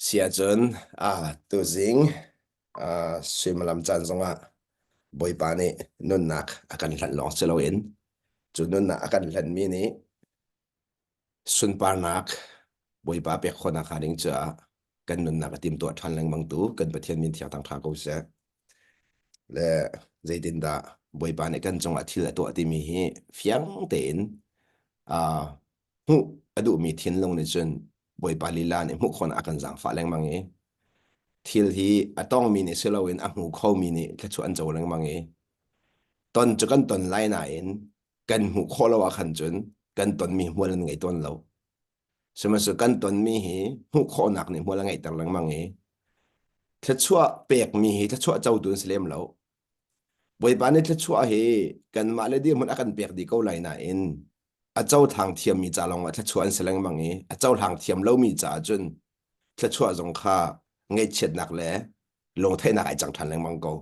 Si ahcun ah tuzing ah suimilam caan zongah Bawipa nih nunnak a kan hlanh lawng si loin cu nunnak a kan hlanhmi nih sunparnak Bawipa pek khawhnak hnga ding caah kan nunnak a timtuah ṭhan lengmang tu kan Pathian min thiangthang ṭha ko seh. Le zeitindah Bawipa nih kan cungah thil a tuah timi hi fiang tein ah hmuh a duhmi thinlung nih cun Bawipa lila nih hmuh khawhnak a kan zaangfah lengmang i thil hi a tawngmi nih si loin a hmu khomi nih thluachuah an co lengmang i ton cu kan ton lai nain kan hmuh khawh lo ahkhan cun kan tonmi hmual an ngei tawn lo sihmanhsehlaw kan tonmi hi hmuh khawhnak nih hmual a ngeihter lengmang i thluachuah pekmi hi thluachuah cotu an si lem lo Bawipa nih thluachuah hi kanmah le dirhmun a kan pek dih ko lai nain a cohlang thiammi ca lawng ah thluachuah an si lengmang i a cohlang thiam lomi caah cun thluachuah zong kha ngaihchiatnak le lungtheihnak ai cang ṭhan lengmang ko.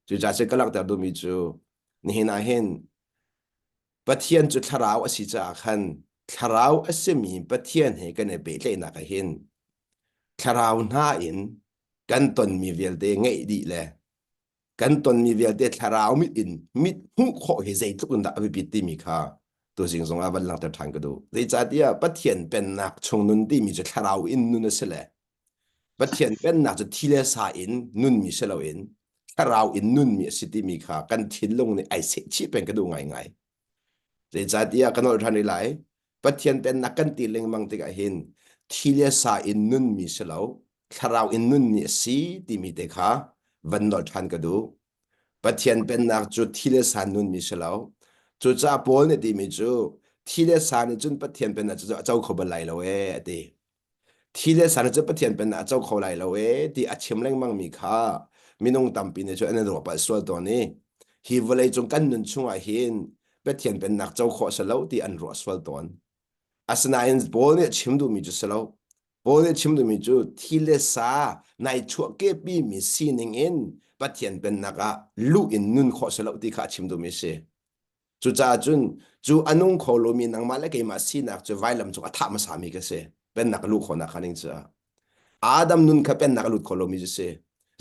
Cucaah cu ka langhter duhmi cu nihin ah hin Pathian cu thlarau a si caah khan thlarau a simi Pathian he kan i pehtlaihnak ah hin thlarau hna in kan tonmi vialte ngeih dih le kan tonmi vialte thlarau mit in mit hmuh khawh hi zeitluk in dah a biapit timi kha tuzing zong ah van langhter ṭhan ka duh. Zeicahtiah Pathian pennak chung nun timi cu thlarau in nun a si le Pathian pennak cu thi le sa in nunmi si loin thlarau in nunmi a si timi kha kan thinlung nih ai sehchih peng ka duh ngaingai. Zeicahtiah ah kan holh ṭhan rih lai. Pathian pennak kan ti lengmang tikah hin thi le sa in nunmi si lo, thlarau in nunmi a si timi te kha van nolh ṭhan ka duh. Pathian pennak cu thi le sa nunmi si lo. Cucaah Paul nih timi cu thi le sa nih cun Pathian pennak cu a co kho bal lai lo ee, a ti. Thi le sar cu Pathian penah a co kho lai lo e ti a chim lengmangmi kha minung tampi nih cun an in ruah palh sual tawn i hi vawleicung kan nun chungah hin Pathian pennak co khawh a si lo ti an ruah sual tawn. Asinain Paul nih a chim duhmi cu si lo. Paul nih a chim duhmi cu thi le sa nai chuahkepimi sining in Pathian pennak ah luh in nun khawh a si lo ti kha a chim duhmi a si. Cucaah cun cu a nung kho lomi nangmah le keimah sinak cu vailam cung a thah hmasa mi ka si. Pennak luh khawhnak kha ning cu Adam nun kha pennak a lut kho lomi cu si.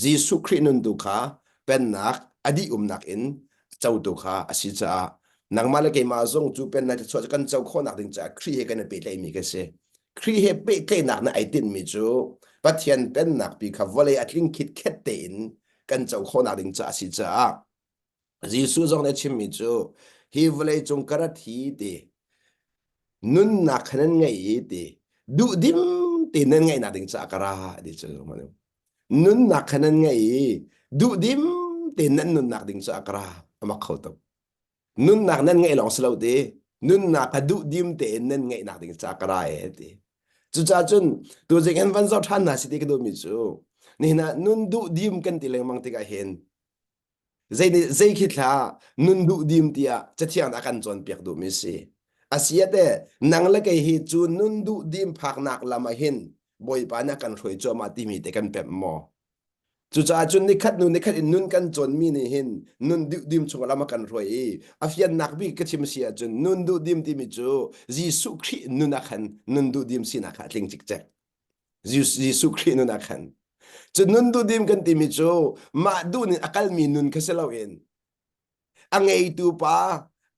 Jesuh Khrih nun tu kha pennak a dih umnak in cotu kha a si caah nangmah le keimah zong cu pennak thluachuah cu kan co khawhnak ding caah Khrih he kan i pehtlaihmi ka si. Khrih he pehtlaihnak nih ai tinhmi cu Pathian pennak pi kha vawlei a tling khitkhet tein kan co khawhnak ding caah a si caah Jesuh zong nih a chimmi cu hi vawleicung ka rat hi ti nunnak kha nan ngei hi ti duhdim tein nan ngaihnak ding caah ka ra ti cu nunnak kha nan ngei i duhdim tein nan nunnak ding caah ka ra a mak kho tuk nunnak nan ngeih lawng si lo ti nunnak kha duhdim tein nan ngeihnak ding caah ka ra e ti cucaah cun tu zing an van zoh ṭhan hna si ti ka duhmi cu nihin ah nun duhdim kan ti lengmang tikah hin Zei, zei khi thlah nun duh dim tiah cathiang ah kan cawnpiak duhmi si. Asiate nang le kei hi cu nun duh dim phaknak lam ah hin Bawipa nih a kan hruai cuahmah timi te kan pemh maw? Cucaah cun nikhat hnu nikhat in nun kan cawnmi nih hin nun duh dim chung lam a kan hruai i a fiannak bik ka chim si ahcun nun duh dim timi cu Jesuh Khrih nun ah khan nun duh dim sinak kha a tling cikcek. Jesuh Khrih nun ah khan. Cu nun duhdim kan timi cu mah duh nin a kalmi nun kha si loin a ngeitu pa,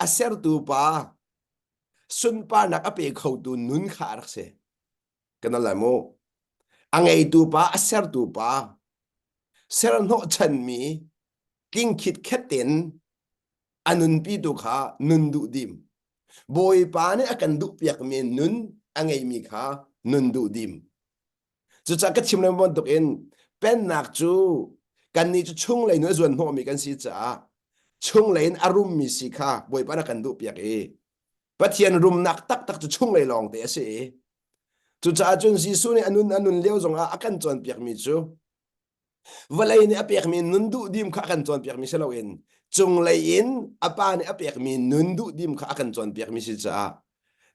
a sertu pa, sunparnak a pe khotu nun kha a rak si. Kan al lai mu. A ngeitu pa, a sertu pa, ser hnawhchanmi tlingkhit khet in a nunpi tu kha nun duh dim bawipa nih a kan duhpiakmi nun a ngeimi kha nun duh dim cucah ka chim lengmang bantuk in pennak cu kannih cu chunglei nun a zuan hnawhmi kan si caah chunglei in a rummi si kha bawipa na kan duhpiak i pathian rumnak taktak cu chunglei lawng te a si i cucaah cun Jesuh nih a nun a nun lio zongah a kan cawnpiakmi cu Vawlei nih a pekmi nun duhdim kha a kan cawnpiakmi si loin cunglei in a pa nih a pekmi nun duhdim kha a kan cawnpiakmi si caah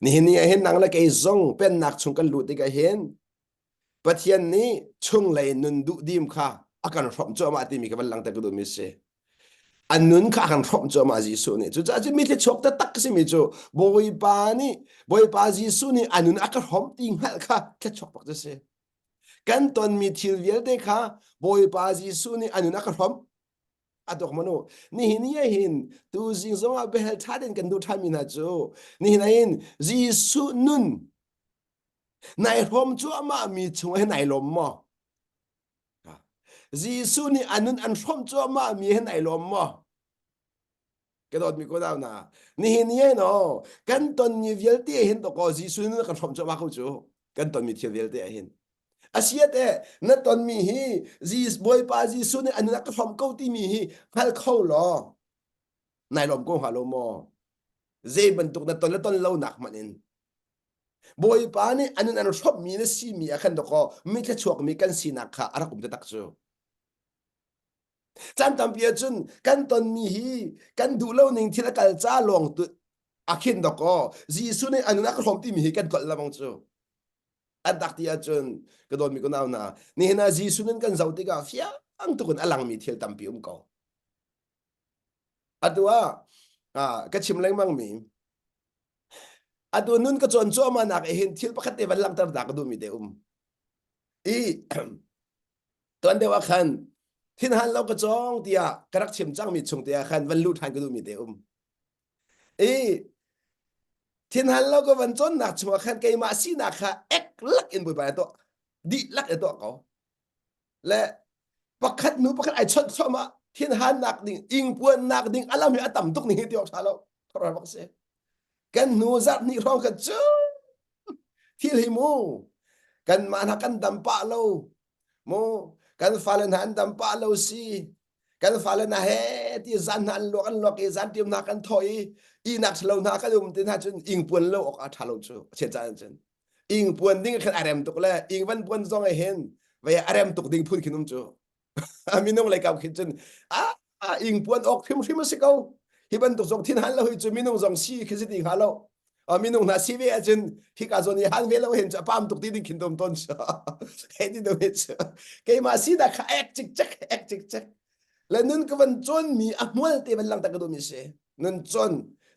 nihin ni ahhin nang le kei zong pennak chung kan lut tik ahhin Pathian nih chunglei nun duhdim kha a kan hrawmh cuahmah timi ka van langhter ka duhmi a si. A nun kha a kan hrawmh cuahmah Jesuh nih. Cucaah cu mi thluachuak taktak simi cu Bawipa nih Bawipa Jesuh nih a nun a ka hrawmh ti hngalh kha thluachuak bak cu a si. kan tonmi thil vialte kha Bawipa Jesuh nih a nun a ka hrom a tuk manu nihin ni hin tu zing zongah behel ṭha in kan duh ṭhanmi hna cu nihin ah hin Jesuh nun nai hrom cuahmah mi chung he nai lawm maw Jesuh nih a nun an hrom cuahmah mi he nai lawm maw ka dawtmi ko dau na nihin ni no kan ton ni vialte hin to ko Jesu nu kan hrom chama ko chu kan ton mi thil vialte hin asiate na ton mi hi Jesus Bawipa Jesu ni anuna ka hrom ko ti mi hi hngal kho lo nai lom ko ha lo mo zei bantuk na ton le ton lo nak man in Bawipa nih anun an hrom mi na si mi a khan to ko mi tla chuak mi kan sinak kha arak um te tak chu Chan tampi ahcun kan tonmi hi kan duh lo ning thil a kal ca lawng tu a khin dok aw Jesuh nih a nunak a hlawm timi hi kan kolh lamang cu an tak ti ahcun ka dawtmi ko nau na nihin ah Jesuh nan kan zoh tikah fiang tukin a langmi thil tampi um ko atu ah ka chim lengmangmi atu nun ka cawn cuahmah nak hin thil pakhat te van langter da ka duhmi te um i tuan deuh ah khan thin han lo ka chong tiah ka rak chim cangmi chung te ah khan van lu ṭhan ka duhmi te um i thin han lo ka van cawnnak chungah khan keimah sinak kha ek lak in bawipa na tuah dihlak na tuah ko le pakhat nu pakhat ai chawnh chawmah thin hannak ding ingpuannak ding alam hi a tam tuk ning hi ti awk ṭha lo thora bak si kan hnu zat ni hrawng kan cu thil hi mu kan man ha kan dam pa lo mu kan fale na an dam pa lo si kan fale na he ti zan na an luak an luak i zan tiam na kan tho i inak lo na kan um tin ha cun ing puan lo ok a tha lo chu che cha cun ing puan ding khan arem tuk le ing van puan zong e hin ve arem tuk ding phun khinum chu a minung lei kau khin cun a ing puan ok hrimhrim a si ko hi bantuk zong thin han lo hi cu minung zong si khi zit ing ha lo a minung na si ve acun hi ka zon i han ve lo hen chu apam tuk ti ding khin dom ton he ti do he chu ke ma si da kha ek chik chak ek chik chak le nun ka van chon mi a mual te ban lang ta ka do mi se nun chon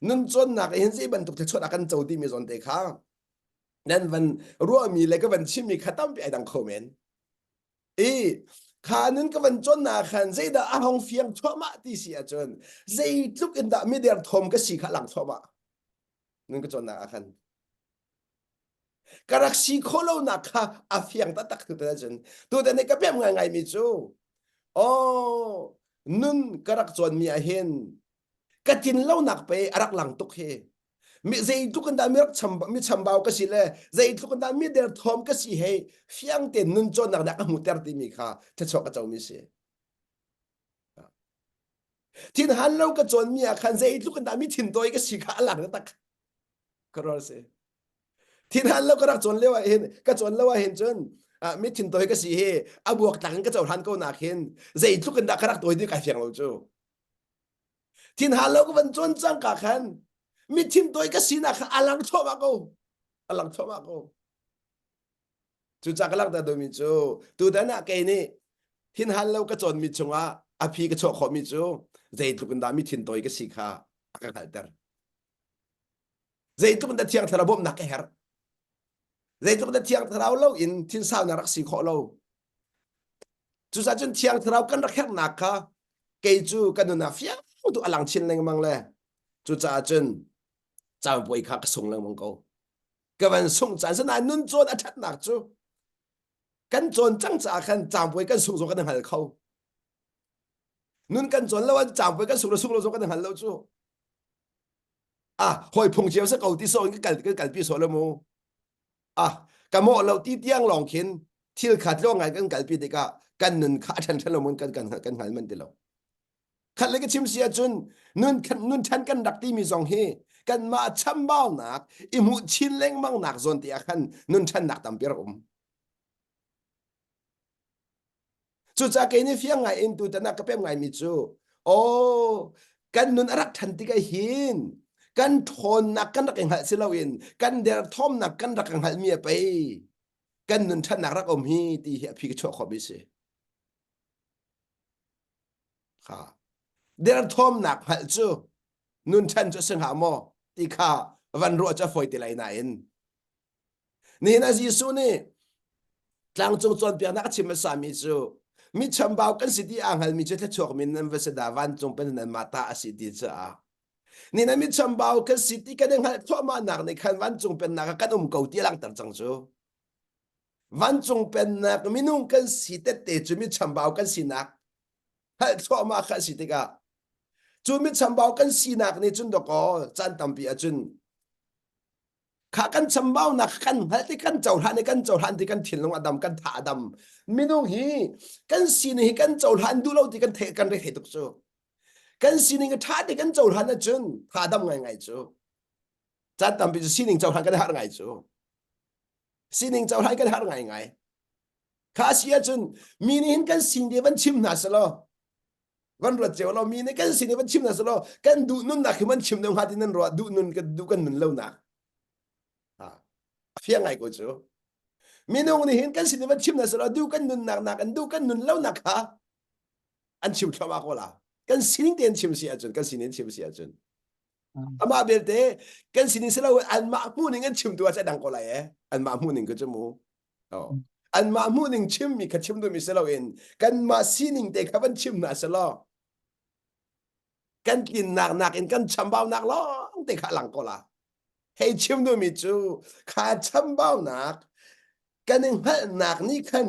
nun chon na ka hin zi bantuk te chot akan cho ti mi zon te kha nan van ruwa mi le ka van chim mi khatam pi ai dang kho men i kha nun ka van chon na khan zeidah a hong fiang thuahmah ti si ahcun zeitluk in dah mider thawm ka si kha lang thuahmah nun ka chon na khan ka rak si kho lo nak kha a fiang taktak tutan ahcun tutan i ka pem ngai ngaimi cu aw nun ka rak chon mi ah hin ka tlin lonak pe a rak lang tuk hi mi zeitluk in da mi rak cham mi chambau ka si le zeitluk in da mi der thom ka si hei fiang ten nun chon nak dak mu ter ti mi kha tha chok ka cho mi si thin han lo ka chon mi ah khan zeitluk in da mi thin toy ka si kha alang na tak karol se thin han lo ka rak chon lewa hin ka chon lewa hin chun mi thin toy ka si hi abuak tak ka cho han ko nak hin zeitluk in da ka rak toy di ka fiang lo chu Thin hal lo ka van cuan cang ka khan mi thim toi ka sinak kha alang chawma ko alang chawma ko cu ca ka lang ta domi cu tutan ah kei nih thin hal lo ka cawn mi chungah a phi ka chawh khawh mi cu zeitluk in dah mi thin toi ka si kha a ka hngalhter zeitluk in thiang thlarau bawmhnak ka herh zeitluk in thiang thlarau lo in thinsal na rak si khawh lo cucahcun thiang thlarau kan rak herhnak kha kei cu ka nunah fiang tu alang chin lengmang le cucaah cun caanpuai kha ka sung lengmang ko ka van sung caan sanain nun cawn a ṭhatnak cu kan cawn cang caah khan caanpuai kan sung zong kan hngal kho nun kan cawn lo an caanpuai kan sung lo sung lo zong kan hngal lo cu ah hoi phung cio sa ko ti so in kan kal kan kalpi so le mu ah ka mo lo ti tiang long khin thil khat lo ngai kan kalpi tikah kan nun kha than than lo mun kan kan kan hal man ti lo khat le ka chim sia cun nun nun than kan rak ti mi zong hi kan ma chambau nak i mu chin lengmang nak zon te ah khan nun than nak tam per um Cucaah kei nih fiang ngai in tutan ah ka pem ngaimi cu, aw, kan nun a rak ṭhan tik hin kan ṭhawnnak kan rak i hngalh si loin kan derthawmnak kan rak ka hngalhmi a pei kan nun ṭhatnak rak um hi ti hi a phi ka chuah khawhmi a si. Ha. Derthawmnak hngalh cu nun ṭhan cu a si hnga maw ti kha van ruah cu a fawi ti lai nain Nihin a Jesuh nih tlangcung cawnpiaknak a chim hmasami cu mi chambau kan si ti aa hngalmi cu thluachuak min nan va si dah vancung pen nan mah ta a si ti cu a ni na mi chambau kan si ti kan i hngalh thluahmahnak nih khan vancung pennak ah kan um ko ti a langhter cang cu vancung pennak minung kan si tette cu mi chambau kan sinak hngalh thluahmah kha a si tikah cu mi chambau kan sinak nih cun dakaw caan tampi ah cun kha kan chambaunak kan hngalh ti kan cohlan i kan cohlan ti kan thinlung adam kan tha adam minung hi kan sining hi kan cohlan duh lo ti kan thei kan rethei tuk cu kan sining tha ti kan cohlan ahcun tha adam ngai ngai cu chan tampi cu sining cohlan kan har ngai cu sining cohlan kan har ngai ngai kha si ahcun mi nih hin kan sin te van chim hna selaw kan rat ceu lo mi ne kan sin van chim na salo kan du nun na khi man chim ne ha tin nan ro du nun kan du kan nun lo na ha afia ngai ko chu minung ni hin kan sin van chim na salo du kan nun nak nak an du kan nun lo na kha an chim thloma ko la kan sining ten chim si achun kan sinin chim si achun ama belte kan sinin selo an ma mu ning an chim tu a dang ko la ye an ma mu ning ko chu mu anmah hmuhning chimmi kha chim duhmi si loin kanmah sining te kha van chim hna si law kan tlinnak nakin kan chambaunak lawng te kha lang ko la hei chim duhmi cu kha chambaunak kan i hngalhnak nih khan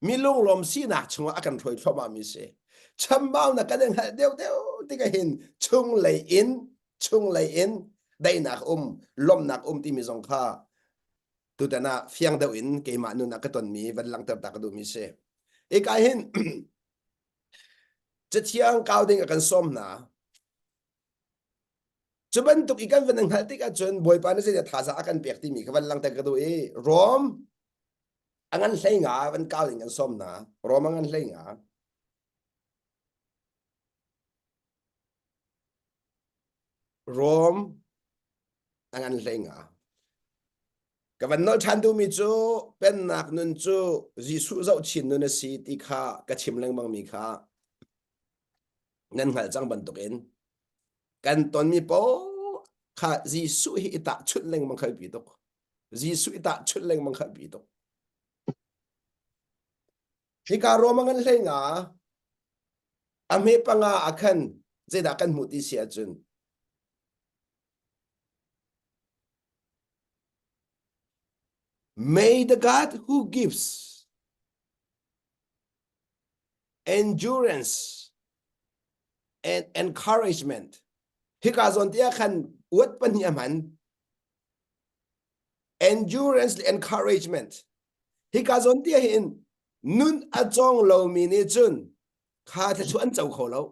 Mi lunglawm sinak chungah a kan hruai thluahmahmi si. Chambau na kan in hngalh deuh deuh tik hin chunglei in chunglei in daihnak um lawmnak um timi zong kha tutan ah fiang deuh in keimah nun ah ka tonmi van langhter ta ka duhmi si. Ika hin cathiang kau ding a kan som hna. Cu bantuk i kan van an hngalh tik ahcun Bawipa nih zeidah thazaang a kan pek timi kha van langter ka duh i Rom a ngan hleinga van kau in kan sawm hna. Rom a ngan hleinga. Rom a ngan hleinga. Ka van nolh ṭhan duhmi cu Pennak nun cu Jesuh zoh chin nun a si ti kha ka chim lengmangmi kha nan hngalh cang bantukin kan tonmi po kha Jesuh hi i tahchunh lengmang kha pi tuk Jesuh i tahchunh lengmang kha pi tuk hika ruamang an hlei nga a hme panga a khan zeidah kan hmuh ti si ahcun May the God who gives endurance and encouragement hika zawn te ah khan uat pahnih a hman endurance le encouragement hika zawn te hin nun a cawng lomi nih cun kha thluan co kho lo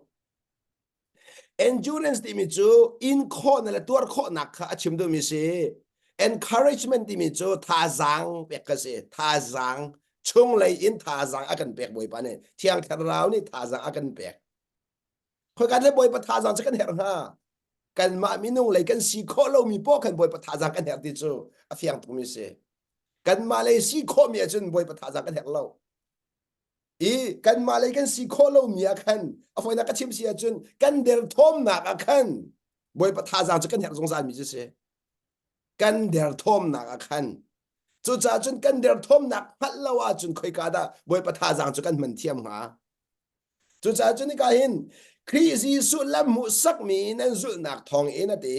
Endurance timi cu inkhawhnak le tuar khawhnak kha a chim duhmi si. Encouragement timi cu thazaang pek ka si. Thazaang chunglei in thazaang a kan pek Bawipa nih Thiang Thlarau nih thazaang a kan pek. Khoikat le Bawipa thazaang cu kan herh hnga. Kanmah minung lei kan si khawh lomi poah khan Bawipa thazaang kan herh ti cu a fiang tukmi si. Kanmah lei si khawhmi ahcun Bawipa thazaang kan herh lo. i kanmah lei kan si khawh lomi ah khan a foinak ka chim si ahcun kan derthawmnak ah khan bawipa thazaang cu kan herh zungzalmi cu si kan derthawmnak ah khan cucaah cun kan derthawmnak hngalh lo ahcun khoika dah bawipa thazaang cu kan hman thiam hnga cucaah cun nika hin Khrih Jesuh lam hmuhsakmi nan zulhnak thawng in a ti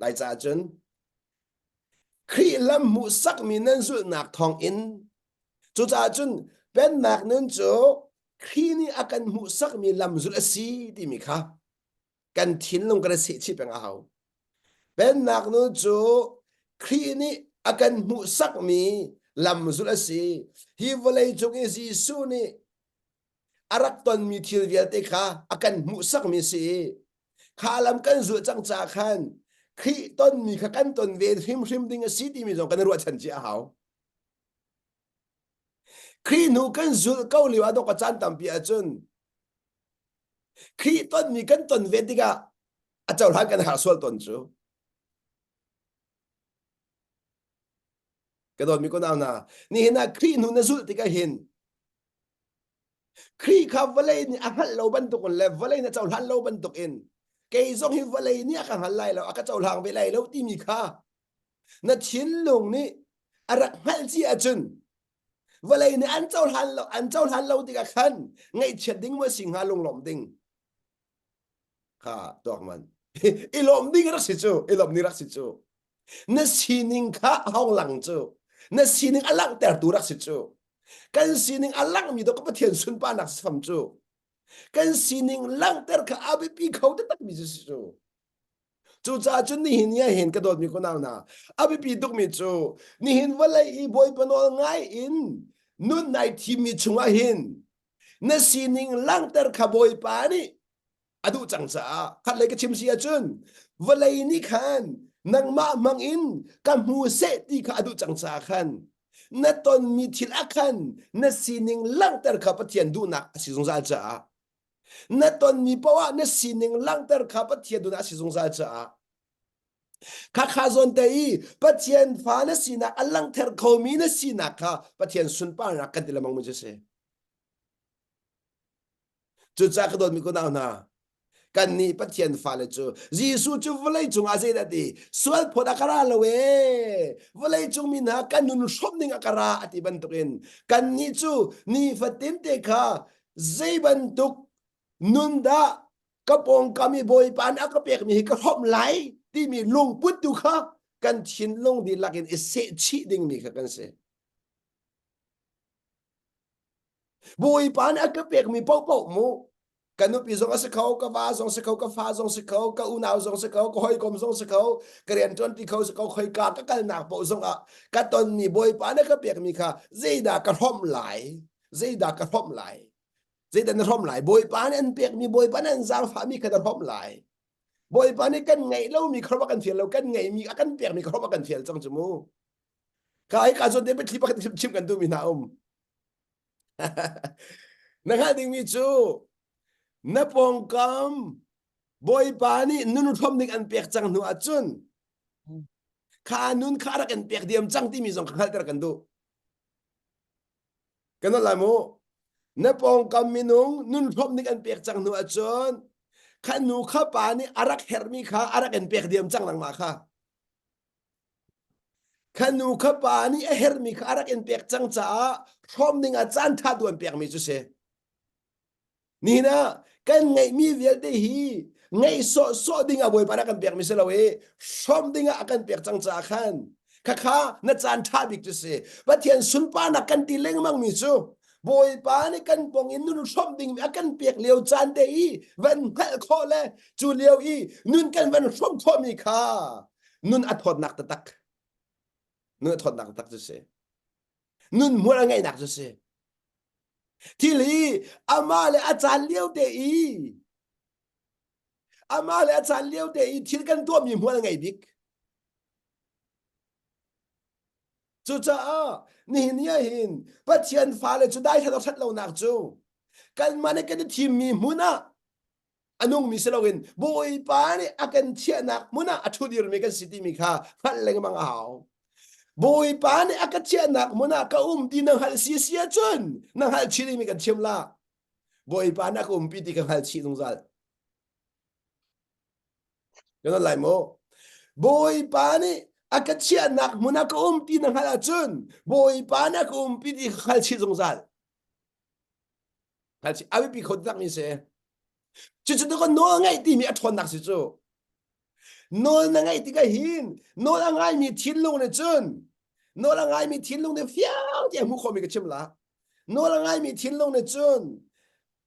Lai caah cun Khrih lam hmuhsakmi nan zulhnak thawng in cucaah cun Pennak nun cu Khrih nih a kan hmuhsakmi lam zulh a si timi kha kan thinlung kan i sehchih peng a hau. Pennak nun cu Khrih nih a kan hmuhsakmi lam zulh a si. Hi vawlei cung i Jesuh nih a rak tonmi thil vialte kha a kan hmuhsakmi a si i kha lam kan zulh cang caah khan Khrih tonmi kha kan ton ve hrimhrim ding a si timi zong kan i ruahchan ci a hau. Khrih hnu kan zulh ko lio ah dok a caan tampi ahcun Khrih tonmi kan ton ve tikah a cohlan kan har sual ton cu. Ka dawt mi ko nau na. Ni hin a Khrih hnu na zulh tikah hin Khrih kha vawlei nih a hngalh lo bantuk in le vawlei nih a cohlan lo bantuk in kei zong hi vawlei nih a ka hngal lai lo a ka cohlang ve lai lo timi kha na thinlung nih a rak hngalh cia ahcun vawlei nih an cohlan lo an cohlan lo tikah khan ngaihchiat ding maw a si hnga lunglawm ding kha tuak man i lawm ding rak si cu i lawm ni rak si cu na sining kha hong lang cu na sining a langhter tu rak si cu kan sining a langmi do ka pathian sunparnak fam cu kan sining langhter kha a biapi kho takmi cu si cu cucaah cun nihin ni hen ka dawtmi ko nau na a biapi tukmi cu nihin vawlei i bawi panawl ngai in nun nai thimmi chungah hin na sining langhter kha bawipa nih a duh cang caah khatlei ka chim si ahcun vawlei nih khan nangmah hmang in ka hmu seh ti kha a duh cang caah khan na tonmi thil ah khan na sining langhter kha Pathian duhnak a si zungzal caah na tonmi poah na sining langhter kha Pathian duhnak a si zungzal caah Khakha zawn te i Pathian fa na sinak a langther khomi na sinak kha Pathian sunparnak kan ti lemang mu cu si. Cucaah ka dawtmi kunau hna, kannih Pathian fale cu Jesuh cu vawlei cungah zeidah ti sual phawt a ka ra lo ee vawlei cung mi hna kan nun hrawmh ding a ka ra a ti bantukin kannih cu nifatinte kha zei bantuk nun dah ka pawngkam i bawipa nih a ka pekmi hi ka hrawm lai timi lungput tu kha kan thinlung dihlak in i sehchih dingmi kha kan si bawipa nih a ka pekmi paohpaoh mu ka nupi zong a si kho ka va zong si kho ka fa zong si kho ka unau zong si kho ka hawikom zong si kho ka rian ṭuan ti kho si kho khoi ka ka kalnak paoh zong ah ka tonmi bawipa nih ka pekmi kha zeidah ka hrawm lai zeidah ka hrawm lai zeidah na hrom lai bawipa nih an pekmi bawipa nih an zaangfahmi kha na hrom lai bawipa nih kan ngeih lomi kha kan fial lo kan ngeihmi a kan pekmi kha a kan fial cang cu mu kai ka zon te pe thli pakhat chim kan tu mi hna um na ngah dingmi cu na pawngkam bawipa nih nun hrom ning an pek cang hnu ahcun kha nun kha rak in pek diam cang timi zong ka hngalter kan duh Kan nolh lai mu. Na pawngkam minung nunhlawp nih an pek cang hnu ahcun kha nu kha pa nih a rak herhmi kha a rak in pek diam cang nangmah kha. Kha nu kha pa nih a herhmi kha a rak in pek cang caah hrawm dingah caan ṭha tu an pekmi cu si. Nihin ah kan ngeihmi vialte hi ngeih sawhsawh ding ah Bawipa nih a kan pekmi si lo i hrawm ding ah a kan pek cang caah khan khakha na caan ṭha bik cu si Pathian sunparnak kan ti lengmangmi cu Bawipa nih kan pong in nun hrawmh dingmi a kan pek lio caan te i van hngalh khawh le cu lio i nun kan van hrawmh khawhmi kha nun a thawtnak taktak nun a thawtnak taktak cu si nunmual a ngeihnak cu si thil hi amah le a caan lio te i amah le a caan lio te i thil kan tuahmi hmual a ngei bik cucaah nihin ni ahhin pathian fale cu dai ṭhat ṭhat lonak cu kanmah le kan i thimmi hmun ah a nungmi si loin Bawipa nih a kan chiahnak hmun ah a ṭhudirmi kan si timi kha hngalh lengmang a hau. Bawipa nih a ka chiahnak hmun ah ka um ti na hngalh si si ahcun na hngalh chih mi kan chiam la. Bawipa nih a ka umpi ti ka hngalh chih zungzal. Kana lai mo. Bawipa nih a ka chiahnak hmun ah ka um ti na hngalh ahcun Bawipa nih a ka umpi ti ka hngalh chih zungzal. a biapi kho tak mi si cucu tu nawl ngeih timi a ṭhawn nak si cu nawl na ngeih tikah hin nawl a ngai mi thinlung nih cun nawl a ngai mi thinlung nih fiang ti a hmu khomi ka chim la nawl a ngai mi thinlung nih cun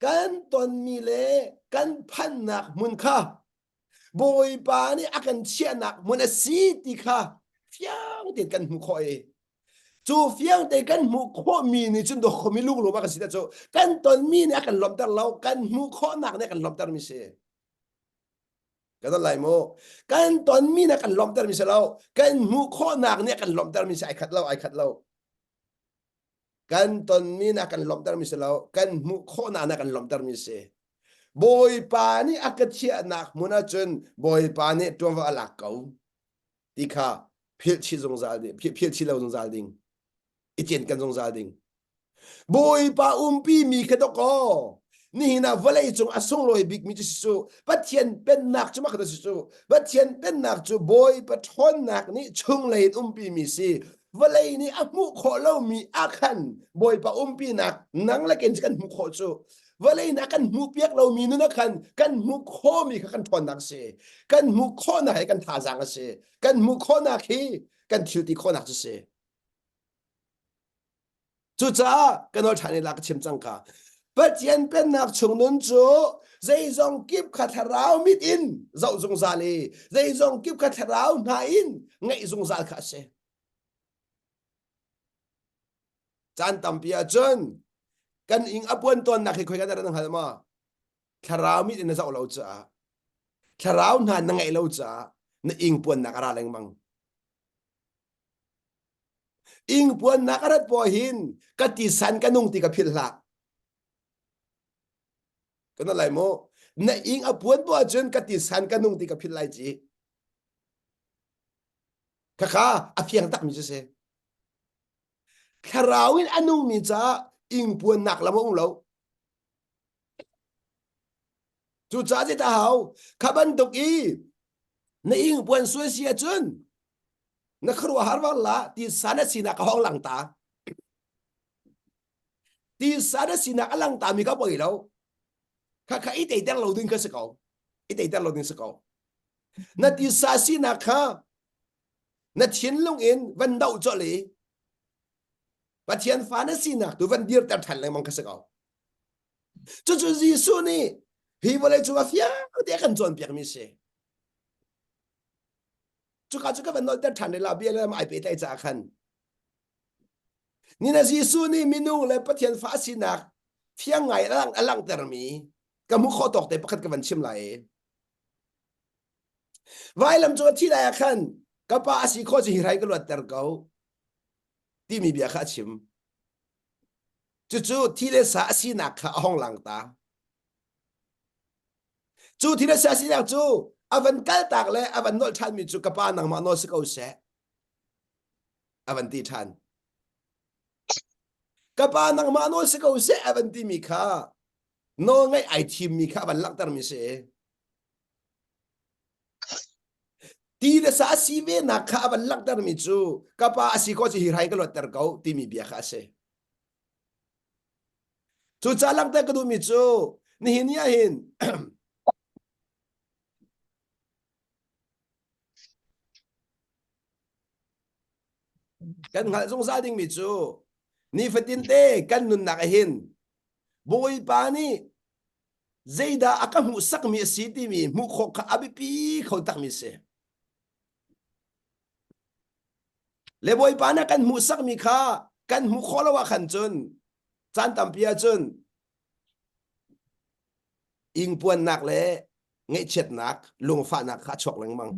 kan tonmi le kan phannak hmun kha Bawipa nih a kan chiahnak hmun a si ti kha fiang tein kan hmuh khawh i cu fiang tein kan hmuh khawhmi nih cun dawh khomi lunglawm a kan si cu kan tonmi nih a kan lawmhter lo kan hmuh khawhnak nih a kan lawmhtermi si kan ton lai mu kan tonmi nih a kan lawmhtermi si lo kan hmuh khawhnak nih a kan lawmhtermi si ai khat lo ai khat lo kan tonmi na kan lawmhtermi si lo kan hmuh khawhnak na kan lawmhtermi si bawipa nih a ka chiahnak hmun ahcun bawipa nih ṭuanvo a lak ko ti kha philhchih zungzal ding philhchih lo zungzal ding i cin kan zungzal ding bawipa umpi mi kha dok aw nihin ah vawlei cung a sunglawi bikmi cu si cu pathian pennak cu makhat si cu pathian pennak cu bawipa ṭhawnnak nih chunglei in umpi mi si vawlei nih a hmuh khawh lomi ah khan bawipa umpinak nang le ken kan hmuh khawh cu vawlei nih a kan hmuh piak lomi nun ah khan kan hmuh khawhmi kha kan ṭhawnnak a si kan hmuh khawhnak hi kan thazaang a si kan hmuh khawhnak hi kan thilti khawhnak cu si Cucaah kan ol ṭhan i la ka chim cangka. Pathian pennak chung nun cu zeizong kip kha thlarau mit in zoh zungzal i zeizong kip kha thlarau hna in ngaih zungzal kha a si. Caan tampi ahcun kan ing a puan tawnnak hi khoi kan ran hngal ma? Thlarau mit in na zoh lo caah thlarau hna na ngaih lo caah na ing puannak a ra lengmang. Ingpuannak a rat puah hin ka tisan ka nung ti ka philh hlah. Ka na lai maw? Na ing a puan puah cun ka tisan ka nung ti ka philh lai ci. Khakha a fiang takmi cu si. Thlarau in a nungmi caah ingpuannak lam a um lo. Cucaah cit a hau. Kha bantuk i na ingpuan suai si ahcun na khuaruahhar var la ti sa na sinak a hong lang ta. Ti sa na sinak a lang ta mi ka poi lo. Kha kha i teiter lo ding ka si ko. I teiter lo ding si ko. Na ti sa sinak kha na thinlung in van doh cawle Pathian fa na sinak tu van dirter than lengmang ka si ko. Cucu Jesuh nih hi vawlei cung a fiang te kan cawnpiak mi si. Cuka cu ka van nolter than le la bia le ai pe tlai ca khan. Ni na Jesuh nih minung le Pathian fa sinak fiang ngai alang alang ter mi ka mu kho tok te pakhat ka van chim lai e. Vai lam cung a thi lai ah khan ka pa a si kho ci hi rai ka luat ter ko timi bia kha a chim. Cucu thi le sa a sinak kha a hong lang ta. Cu thi le sa a sinak cu a van kaltak le a van nolh ṭhanmi cu ka pa nangmah nawl si ko seh. A van ti ṭhan. Ka pa nangmah nawl si ko seh a van timi kha nawl ngaih ai thimmi kha a van langhtermi si. Ti le sa a si ve nak kha a van langhtermi cu ka pa a si ko cu hi rai ka luatter ko timi bia kha a si. Cu ca langhter ka duhmi cu nihin ni ahhin kan hngalh zungzal dingmi cu nifatinte kan nunnak ahhin Bawipa nih zeidah a ka hmuhsakmi a si timi hmuh khawh kha a biapi kho takmi a si. Le bawipa nih kan hmuhsakmi kha kan hmuh khawh lo ah khan cun caan tampi ah cun ingpuannak le ngaihchiatnak lungfahnak kha a chuak lengmang.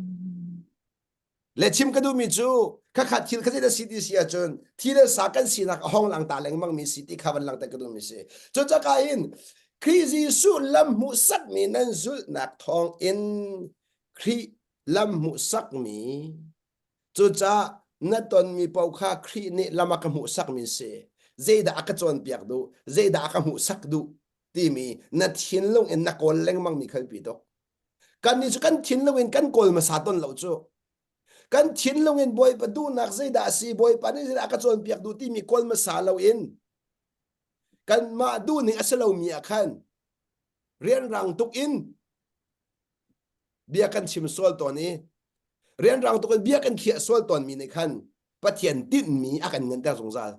le chim ka duhmi cu khakhat thil kha zeidah si ti si ahcun thi le sa kan sinak a hong lang ta lengmang mi si ti kha van langter ka duhmi si cucaka in Khrih Jesuh lam hmuhsakmi nan zulhnak thawng in Khrih lam hmuhsakmi cucah na tonmi pau kha Khrih nih lam a ka hmuhsakmi si zeidah a ka cawnpiak duh zeidah a ka hmuhsak duh timi na thinlung in na kawl lengmang mi khalpi tuk kannih cu kan thinlung in kan kawl hmasa ton lo cu kan thinlung in bawipa duhnak zeidah a si bawipa nih zeidah a ka cawnpiak duh timi kawl hmasa lo in kanmah duhning a si lomi ah khan rianrang tuk in bia kan chim sual tawn i rianrang tuk in bia kan khiah sual tawnmi nih khan pathian tinhmi a kan nganter zungzal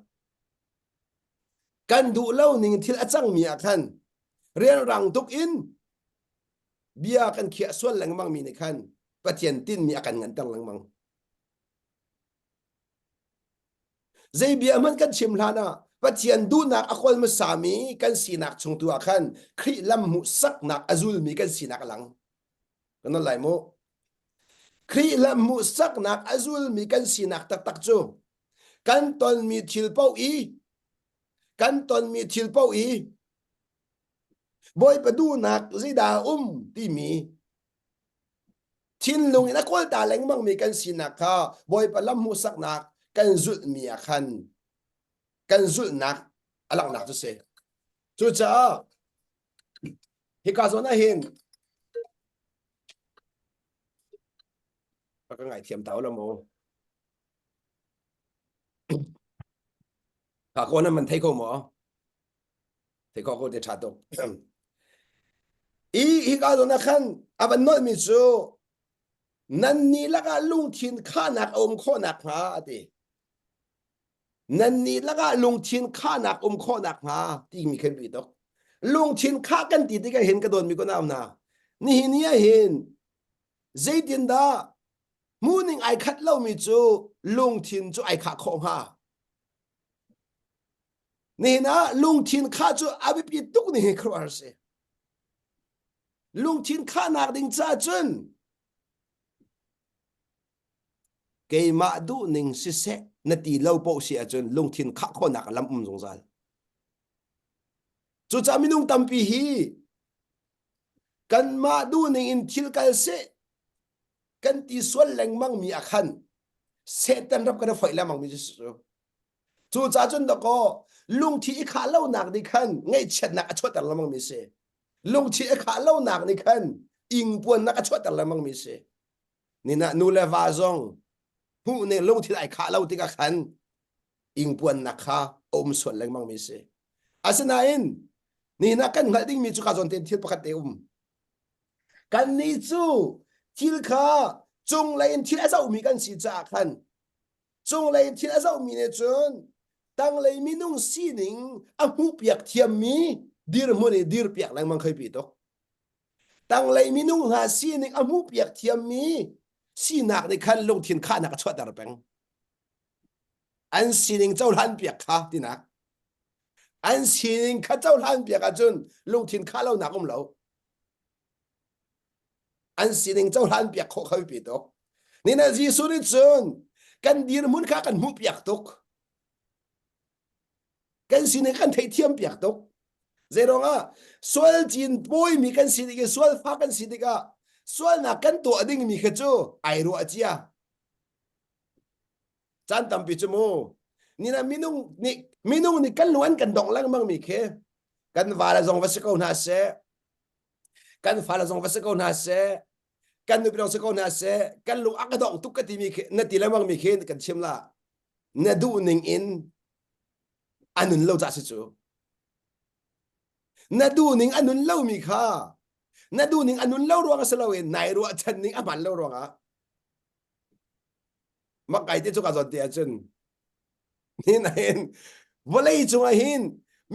kan duh lo ning thil a cangmi ah khan rianrang tuk in bia kan khiah sual lengmang mi nih khan Pathian tinmi a kan nganter lengmang zei bia hmanh kan chim hlan ah Pathian duhnak a kol hmasa mi kan sinak chung tu ah khan Khrih lam hmuhsaknak a zulmi kan sinak a lang kan non lai mu Khrih lam hmuhsaknak a zulmi kan sinak taktak cu kan tonmi thil paoh i kan tonmi thil paoh i bawipa duhnak zeidah um timi thinlung in a kawlta lengmangmi kan sinak kha bawipa lam hmuhsaknak kan zulhmi ah khan kan zulhnak a langhnak cu si cucaah hika zawn ah hin ka ngaithiam ta lo maw Kha ko na man thei ko maw? Thei ko ko te tha tuk. I hi ka zo na khan avan noi mi cu nan ni laka lungthin khanak a um khawnak hnga a ti. Nan ni laka lungthin khanak um khawnak hnga ti mi khen ri tok. Lungthin kha kan ti ti ka hin ka don mi ko naam na. Ni hi ni a hin zeitin dah hmuhning ai khat lomi cu lungthin cu ai khah khawh hnga nihin ah lungthin khah cu a biapi tuk ni hi khuaruahhar si lungthin khahnak ding cahcun keimah duhning siseh na ti lo poh si ahcun lungthin khah khawhnak lam um zungzal cucah minung tampi hi kanmah duhning in thil kal seh kan ti sual lengmang mi a khan Satan ram kan i foih lengmang mi cu cu ca cun dakaw lungthi i khah lonak nih khan ngaihchiatnak a chuahter lengmang mi si lungthi i khah lonak nih khan ingpuannak a chuahter lengmang mi si nina nu le va zong hmuh ne lungthi ai khah lo tikah khan ingpuannak kha a um sual lengmang mi si asinain nihna kan hngalh ding mi cu ka zawn ten thil pakhat te um Kannih cu thil kha cunglei in thil a zohmi kan si caah khan cunglei in thil a zohmi nih cun tanglei minung sining a hmuhpiak thiammi dirhmun i dirpiak lengmang khoi pi tuk. Tanglei minung hna sining a hmuhpiak thiammi sinak nih khan lungthin khahnak a chuahter peng. An sining cohlan piak kha tinak. An sining kha cohlan piak ahcun lungthin khah lonak um lo. An sining cohlan piak khawh kho pe tuk. Nina Jesuh nih cun kan dirhmun kha kan hmuh piak tuk. Kan sining kan theithiam piak tuk. Zeirong ah sual cin pawimi kan si ding i sual fa kan si tikah sualnak kan tuah dingmi kha cu ai ruah cia. chan tampi chu mu ni na minung ni minung ni kan luan kan dong lengmang mi khi kan va la zong va si ko hna se kan fa la zong va si ko hna se kan nu pinong si ko hna se kan lung ak dong tuk ka ti mi khi na ti lengmang mi khi kan chim la na duh ning in anun lo cha si chu na du ning anun lo mi kha na du ning anun lo ruang a si lo in nai ruah chan ning a man lo ruang ah Makai te cu ka zawt te ahcun hin ahin vawlei cungah hin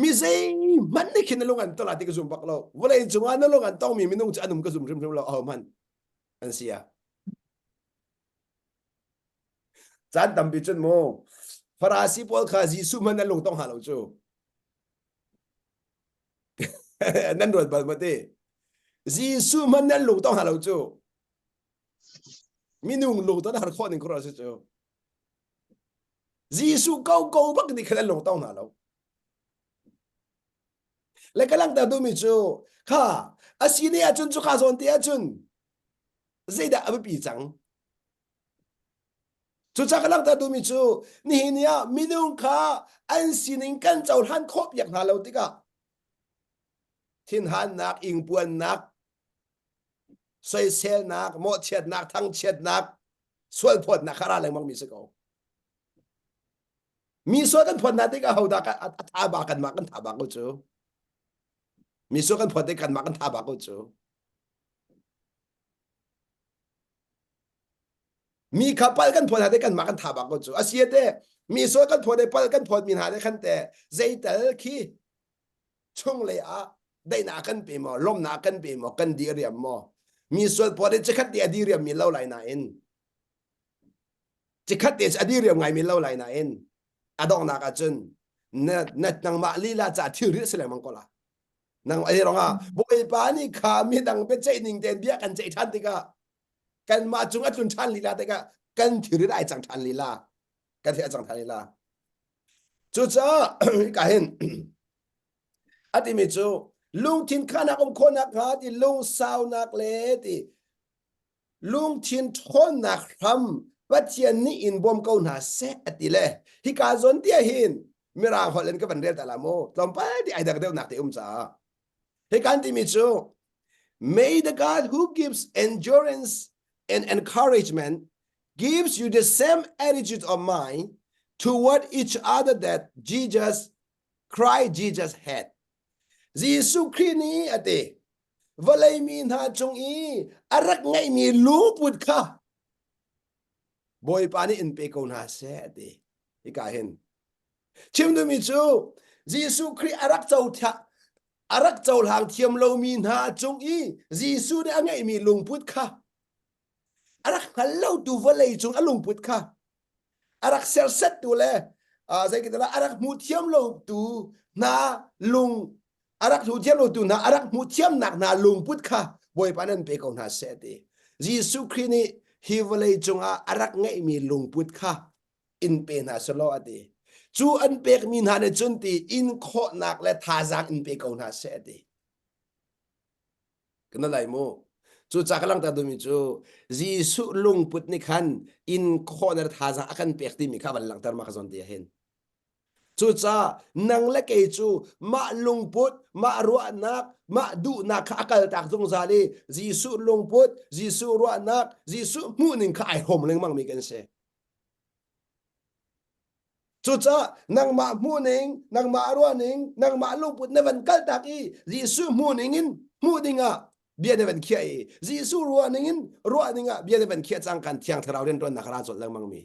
mi zeihmanh nih khin na lung an tol ah ti ka zum bak lo vawlei cungah na lung an tongmi minung cu an um ka zum hrimhrim lo ahohmanh an si ah caan tampi cun mu Farasi pawl kha Jesuh hmanh an lung tong hna lo cu nan ruat bal maw ti Jesuh hmanh nan lung tong hna lo cu Minung lungton har khawh ning kor a si cu. Jesuh ko ko bak ni khalan lung tong na lo. Le ka lang ta du mi cu kha asi ne acun cu kha zawn te acun zeidah abipi cang cucak lang ta dumi cu nihin ya minung kha an sining kan cohlan khop yak hna lo tikah thinhannak ingpuannak soiselnak mawhchiatnak thangchiatnak sualphawtnak kha ra lengmang mi si ko mi sual kan phawt hna tikah hodah a tha ba kan mah kan tha ba ko cu mi sual kan phawt tik kan mah kan tha ba ko cu mi kha pal kan phawt hna te kan mah kan tha ba ko cu asiate mi sual kan phawt te pal kan phawt mi hna te khan te zeital khi chunglei ah daihnak kan pe maw lawmnak kan pe maw kan di riam maw mi sualpuat hi cikhat te adi riam mi lo lai na in cikhat te adi riam ngai mi lo lai na in adongnak ahcun na na nangmah lila ca thilri si lengmang ko la nang ei ronga bawipa nih kha mi dang pe ceih ning ten bia kan ceih than tikah kan mah cung atlun than lila tikah kan thilri dai cang than lila kan theih cang tha lila cucaah ka hin a timi cu lungthin khanak um khawnak hnga ti lungsaunak le ti lungthin ṭhawnnak hram Pathian nih in bawm ko hna seh ati le hi ka zon tia hin mirang holh in ka van rel ta la mu tlawmpal ti ai dak deuh nak te um caah hi kan timi cu may the god who gives endurance and encouragement gives you the same attitude of mind toward each other that Jesus Christ Jesus had. Jesuh Christ nih a ti vawlei mi hna cung i a rak ngeihmi lungput kha Bawipa nih in pe ko hna seh a ti hika hin chim dumi cu Jesuh Christ a rak co a rak cohlang thiam lomi hna cung i Jesuh nih a ngeihmi lungput kha a rak hngal lo tu vawlei cung a lungput kha a rak serset tu le uh, zei kita a rak hmuh thiam lo tu hna lung a rak hmuh thiam lo tu hna a rak hmuh thiam nak hna lungput kha bawipa nan pe ko hna se ti Jesuh Christ nih hi vawlei cungah a rak ngeihmi lungput kha in pe hna selaw ati cu an pekmi hna ne cun ti in khawhnak le thazang in pe ko hna se ti kana lai mu cu ca ka langta dumi cu Jesuh lungput ni khan in khawhner thaza a kan pek timi kha van langter ma ka zon dia hin cucaah nang le kei cu mah lungput mah ruahnak mah duhnak kha a kaltak zungzal i Jesuh lungput Jesuh ruahnak Jesuh hmuhning kha ai hom lengmang mi kan si Cucah nangmah hmuhning, nangmah ruahning, nangmah lungput na van kaltak i Jesuh hmuhning in hmuh dingah bia na van khiah i Jesuh ruahning in ruah dingah bia na van khiah cang kan Thiang Thlarau rianṭuannak a ra colh lengmangmi.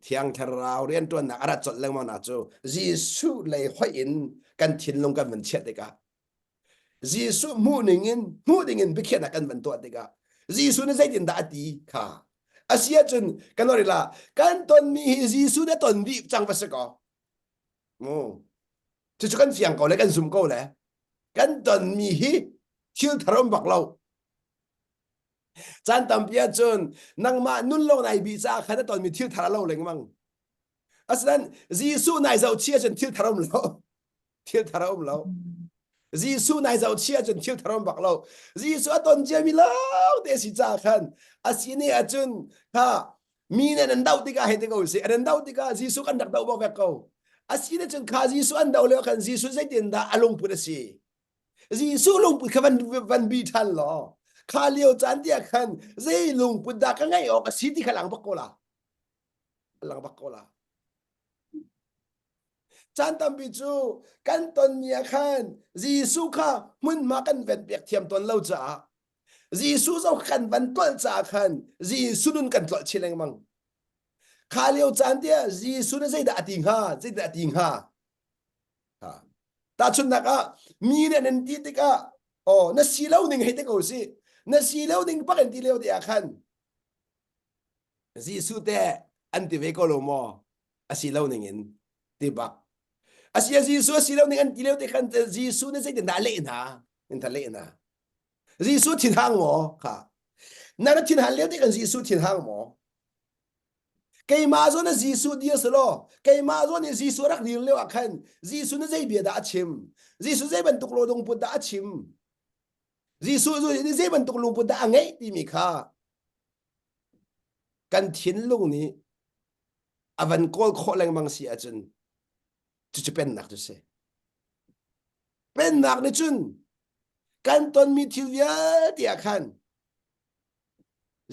Thiang Thlarau rianṭuannak a rat colh lengmangnak cu Jesuh lei hoih in kan thinlung kan van chiah tikah Jesuh hmuh ningin hmuh dingin biakhiahnak kan van tuah tikah Jesuh nih zeitindah a ti kha a si ahcun kan orin la kan tonmi hi Jesuh na ton dih cang va si kaw cucu kan fiang ko le kan zum ko le kan tonmi hi thil thar um bak lo caan tampi ahcun nangmah nun lo nai bi caah khan na tonmi thil thar a lo lengmang asinain Jesuh nai zoh chi ahcun thil thar um lo thil thar a um lo Jesuh nai zoh chi ahcun thil thar um bak lo Jesuh a ton cia mi lo te si ca khan a si ne ahcun ha mi nih nan doh tikah hei ti ko si nan doh tikah Jesuh kan rak doh bak vek ko a si ne cun kha Jesuh an doh leo khan Jesuh zeitin dah a lungput a si Jesuh lungput kha van van bi than law kha leo caan dia khan zei lungput dah ka ngai awk a si ti kha lang bak ko la lang bak ko la Caan tampi cu kan ton ni ah khan Jesuh kha hmunhma kan ven piak thiam tawn lo caah Jesuh zong kan van tolh caah khan Jesuh nun kan tlolh chin lengmang. Kha lio caan tiah Jesuh nih zeidah a ti hnga? Zeidah a ti hnga? Tahchunhnak ah, mi nih nan ti tikah, aw, na si lo ning hei ti ko sih. Na si lo ning bak in ti lio te ah khan, Jesuh teh an ti ve ko lo maw? Asi lo ning in ti bak. Asi a Jesuh asi lo ning an ti leo te khan Jesuh nih zeitin dah leh hna? In ta leh hna. Jesuh thin hang maw kha? Na na thin han leo te kan Jesuh thin hang maw? Keimah zawn na Jesuh dir selaw, keimah zawn nih Jesuh rak dir leo ah khan Jesuh na zei bia dah a chim? Jesuh zei bantuk lo dong put dah a chim? Jesuh nih zei bantuk lungput dah a ngeih timi kha kan thinlung nih a van kawl khawh lengmang si ahcun cucu pennak cu si. Pennak nih cun kan tonmi thil vialte ah khan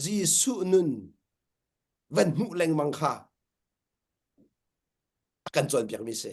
Jesuh nun van hmuh lengmang kha a kan cawnpiakmi si.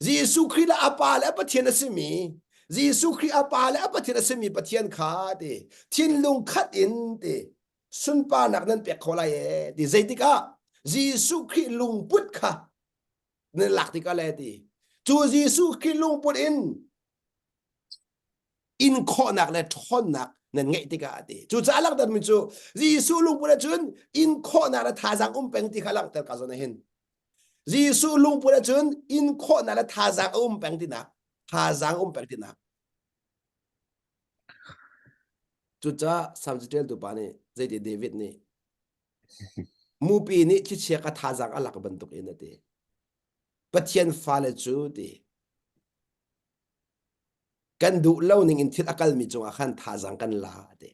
Jesuh Khrih le a pa le a Pathian a simi Jesuh Khrih a pa le a Pathian a simi Pathian kha ti thinlung khat in ti sunparnak nan pek kho lai e ti zeitik ah Jesuh Khrih lungput kha nan lak tikah le ti cu Jesuh Khrih lungput in inkhawhnak le ṭhawnnak nan ngeih tikah a ti cucaah langhtermi cu Jesuh lungput ahcun inkhawhnak le thazaang um peng ti kha langhter kaa zuam hin Jesuh lungput ahcun in khawhnak le thazaang a um peng tinak thazaang um peng tinak cucaah Salm caṭialtu pa nih zeiti David nih mupi nih thlichia ka thazaang a lak bantuk in a ti Pathian fale cu ti kan duh lo ning in thil a kalmi cungah khan thazaang kan la a ti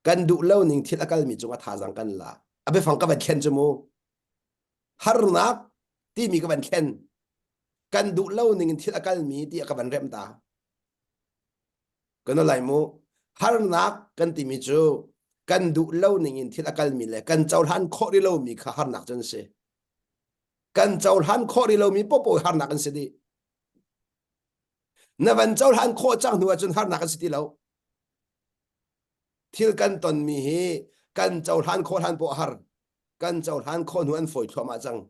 kan duh lo ning thil a kalmi cung a thazang kan la a biafang ka van thlen cu mu harnak timi ka van thlen kan duh lo ning in thil a kalmi ti a ka van rem ta kan lai mu harnak kan timi cu kan duh lo ning in thil a kalmi le kan cohlan khawh rih lomi kha harnak cun si kan cohlan khawh rih lomi popo harnak an si dih na van cohlan khawh cang hnu ahcun harnak an si ti lo Thil kan tonmi hi kan cohlan khawh hlan poah har kan cohlan khawh hnu an fawi thluahmah cang.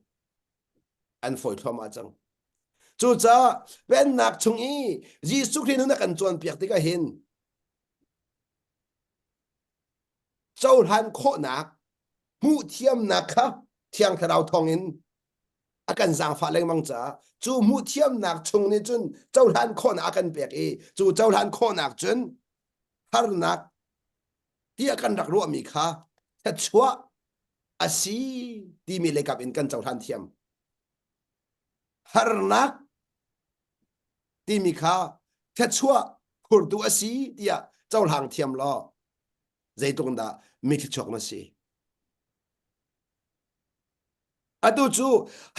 An fawi thluahmah cang. Cucaah Pennak chung i Jesuh Khrih nun a kan cawnpiak tikah hin cohlan khawhnak hmuh thiamnak kha Thiang Thlarau thawngin a kan zaangfah lengmang caah cu hmuhthiamnak chung nih cun cohlan khawhnak a kan pek i cu cohlan khawhnak cun harnak tiah kan rak ruahmi kha thluachuah a si timi lekap in kan cohlan thiam harnak timi kha thluachuah khurtu a si tiah cohlang thiam law zeitluk dah mi thluachuak na si Atu cu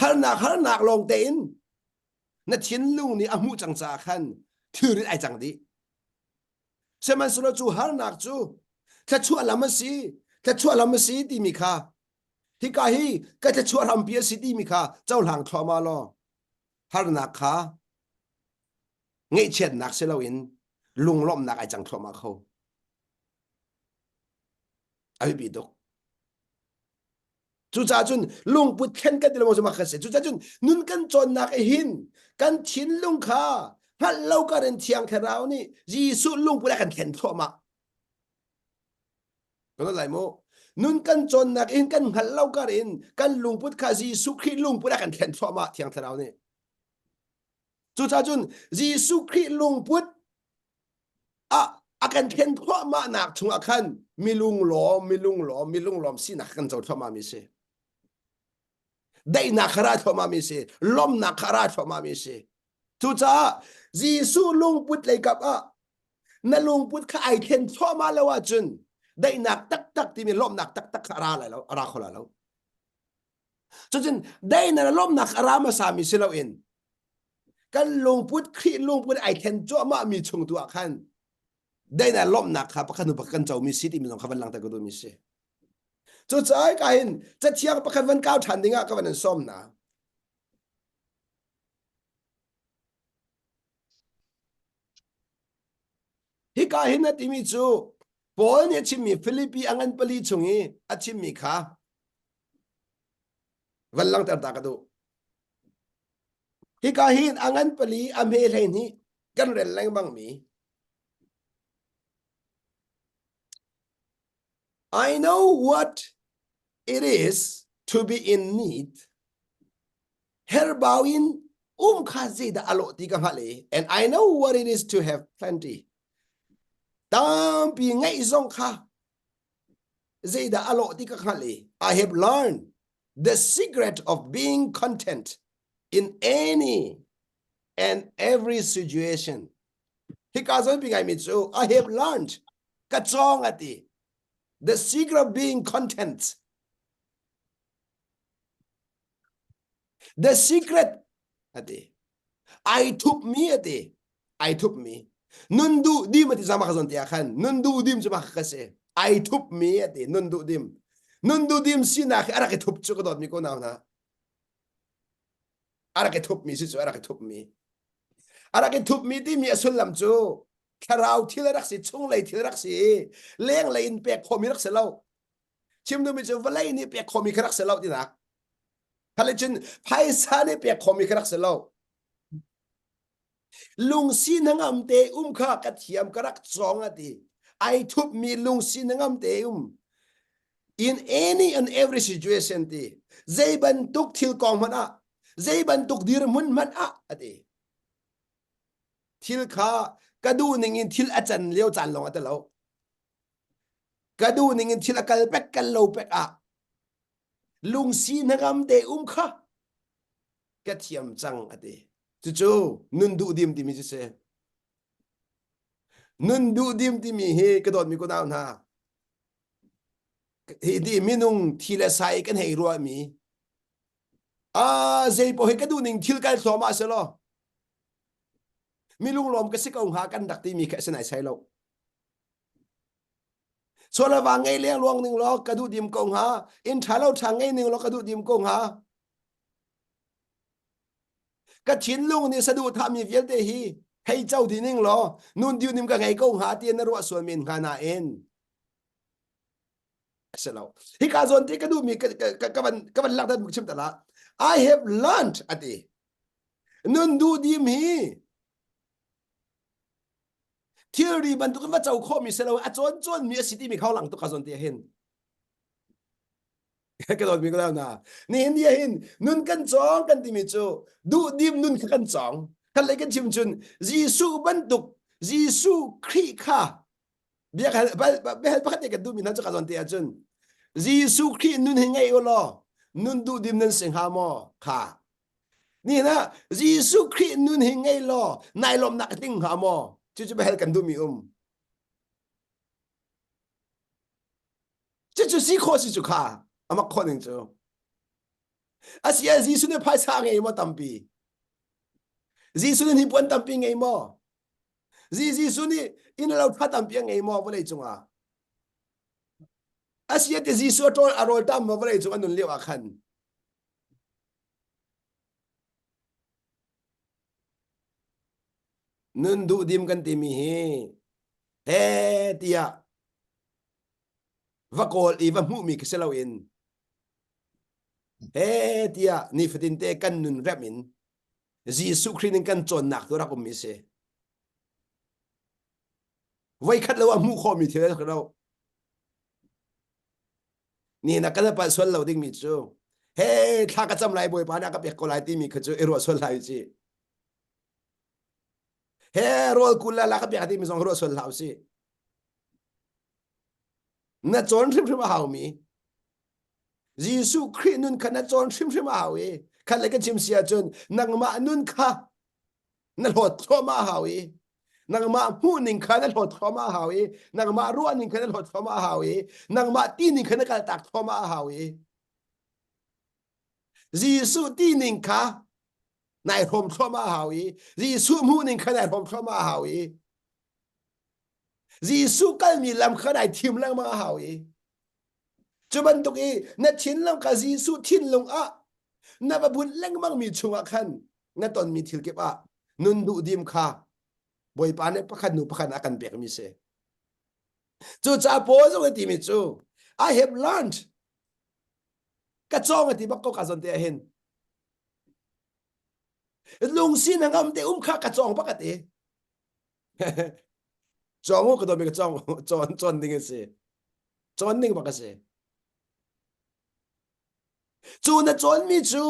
harnak harnak lawng tein na thinlung nih a hmuh cang caah khan thilrit ai cang dih. Sihmanhsehlaw cu harnak cu thluachuah lam a si, thluachuah lam a si timi kha hika hi ka thluachuah hrampi a si timi kha cohlang thluahmah law harnak kha ngeihchiatnak si loin lunglawmhnak ai cang thluahmah kho. ai bi dok cucaah cun lungput thlen kan ti lengmang cuma kan se cucaah cun nun kan cawnnak e hin kan thinlung kha hngalh lo ka rin thiang thlarau nih Jesuh lungput a kan thlen thluahmah kana lai mo nun kan cawnnak in kan hngalh lo kar in kan lungput kha Jesuh Khrih lungput a kan thlen thluahmah thiang thlarau nih Cucah cun Jesuh Khrih lungput ah a kan hren thluahmahnak chungah khan milunglawm, milunglawm, milunglawm sinak kan co thluahmahmi si. Daihnak kha ra thluahmahmi si, lawmnak kha ra thluahmahmi si. Cucaah Jesuh lungput lei kap ah na lungput kha ai thlen thluahmah lo ahcun daihnak taktak timi lawmhnak taktak kha ra lai lo, ra kho la lo. Cucun dainan a lawmnak a ra hmasami si loin kan lungput Khrih lungput ai then cuahmah mi chung tu ah khan dainan lawmnak kha pakhat hnu pakhat kan comi si timi zong kha van langhter ko tu mi si. Cucaah ka hin cathiang pakhat van kau ṭhan dingah ka van an sawm na. Hi ka hin a timi cu Paul nih a chimmi Philippi a ngan pali chung i a chimmi kha van langter ta ka duh hika hi a ngan pali a hme hlei nih kan rel lengmang mi I know what it is to be in need. Herbau in um kha zeidah a lawh ti ka hngalh i and I know what it is to have plenty. Tampi ngeih zong kha Zeidah a lawh ti ka hngalh i I have learned the secret of being content in any and every situation. Hika zong pi ngai mi cu I have learned ka cawng a ti. The secret of being content. The secret ati ai thup mi ati ai thup mi nun du dim ati zama khazon te khan nun du dim chu ma ka se ai thup mi ati nun du dim nun du dim si na khi arak thup chu ka dot mi ko naw na arak thup mi si chu arak thup mi arak thup mi ti mi asullam chu thlarau thil rak si chung lei thil rak si leng lei in pek khomi rak se lo chim nu mi chu valei ni pek khomi kha rak se lo tinak khale cun phaisa ne pek khomi ka rak si lo lungsi nangam te um kha ka thiam ka rak cong a ti ai thup mi lungsi nangam te um in any and every situation ti zei bantuk thil kong hmanh ah zei bantuk dirhmun hmanh ah a ti thil kha ka duh ning in thil a can lio caan lawng a ti lo ka duh ning in thil a kal pek kal lo pek ah lungsi hnangam te um kha ka thiam cang a ti cucu nun duh dim timi cu si nun duh dim timi hi ka dawtmi kunau hna hi ti minung thi le sai kan hei ruah mi a zei po hi ka duh ning thil kai thloma se lo mi lunglawm ka si ko hnga kan dak timi kha sinai sai lo Sual ava ngei le luang ning law ka duh dim ko hnga. Inn tha lo tha ngei ning law ka duh dim ko hnga. Ka thinlung nih saduhthah mi vialte hi hei co di ning law nun diu nim ka ngei ko hnga ti na ruah sual men hnga nain si lo. Hi ka zawn ti ka duh mi ka ka ka van ka van langhter buk chim ta la. I have learned ati. Nun duh dim hi thilri bantuk in va co khawhmi si lo a cawn cawnmi a si timi kha lang tuk ka zawn te hin ka dawn mi ko na nihin dia hin nun kan cong kan timi cu duh dim nun kha kan cong kan lei kan chim chun Jesuh bantuk Jesuh Khrih kha biak hal behal pakhat ne kan duh mi nan chu ka zawn te ahcun Jesuh Khrih nun hi ngei u law nun duh dim nan si hnga maw kha Nihin ah Jesuh Khrih nun hi ngei law nai lawmnak i tling hnga maw? Cucu biahal kan duhmi um. Cucu si khawh si cu kha amak khawh ning cu. Asiah Jesuh nih phaisa ngei maw tampi? Jesuh nih hnipuan tampi ngei maw? Jesuh nih inn lo tha tampi a ngei maw vawlei cungah? Asiah ti Jesuh a ṭawl a rawl tam maw vawlei cung a nun lio ah khan? Nun duhdim kan timi hi he tiah va kawl i va hmuhmi khi si loin he tiah nifatin te kan nun rem in Jesuh Khrih in kan cawnnak tu rak um i si. Voi khat lo a hmuh khawhmi thil ka lo. ni na kan pal sual lo dingmi cu he thla ka cam lai bawipa na ka pek ko lai timi kha cu i ruah sual lai ci he rol kul la la ka pek timi zong ruah sual hlau si na cawn hrimhrim a haumi Jesuh Khrih nun kha na cawn hrimhrim a hau i khat le ka chim si ahcun nangmah nun kha na hlawt thluahmah hau i nangmah hmuhning kha na hlawt thluahmah hau i nangmah ruahning kha na hlawt thluahmah hau i nangmah tining kha na kaltak thluahmah hau i Jesuh tining kha nai hrawm thluahmah hau i Jesuh hmuhning kha nai hrawm thluahmah hau i Jesuh kalmi lam kha nai thim lengmang hau i Cu bantuk i na thinlung kha Jesuh thinlung ah na va bunh lengmangmi chungah khan na tonmi thil kip ah nun duhdim kha Bawipa nih pakhat hnu pakhat a kan pekmi si. Cucaah Paul zong a timi cu I have learned ka cawng a ti bak ko ka zon te ah hin lungsi na ngam te um kha ka cawng bak a ti. Cong u ka dawmi ka cong cawn cawn ding a si. Cawn ning bak a si. Cu na cawnmi cu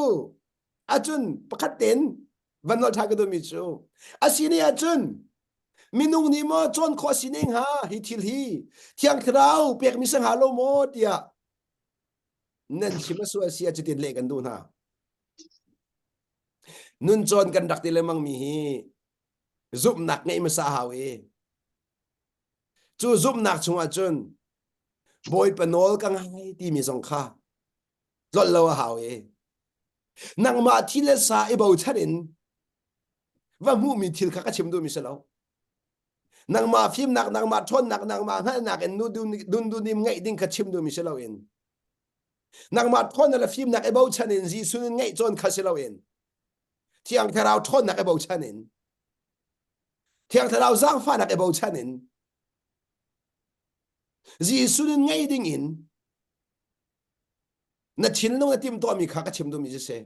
ahcun pakhat ten van nolh ṭha ka duhmi cu asi ni ahcun minung nih maw cawn khawh asi ne hnga hi thil hi thiang thlarau pekmi sa hnga lo maw tiah nan chim a su asi a cutin leh kan duh hna nun cawn kan rak ti lengmang mi hi zumhnak ngeih hmasa a hau i cu zumhnak chungah cun bawipa nawl ka ngai timi zong kha tlolh lo a hau i nangmah thil le sa i bochan in va hmuhmi thil kha ka chim duhmi si lo nangmah fimnak nangmah ṭhawnnak nangmah hngalhnak in dundunim ngeih ding kha chim duhmi si loin nangmah ṭhawn le fimnak i bochan in Jesuh in ngeih cawn kha si loin thiang thlarau ṭhawnnak i bochan in thiang thlarau zaangfahnak i bochan in Jesuh nun ngei ding in na thinlung na tim tuahmi kha ka chim duhmi cu si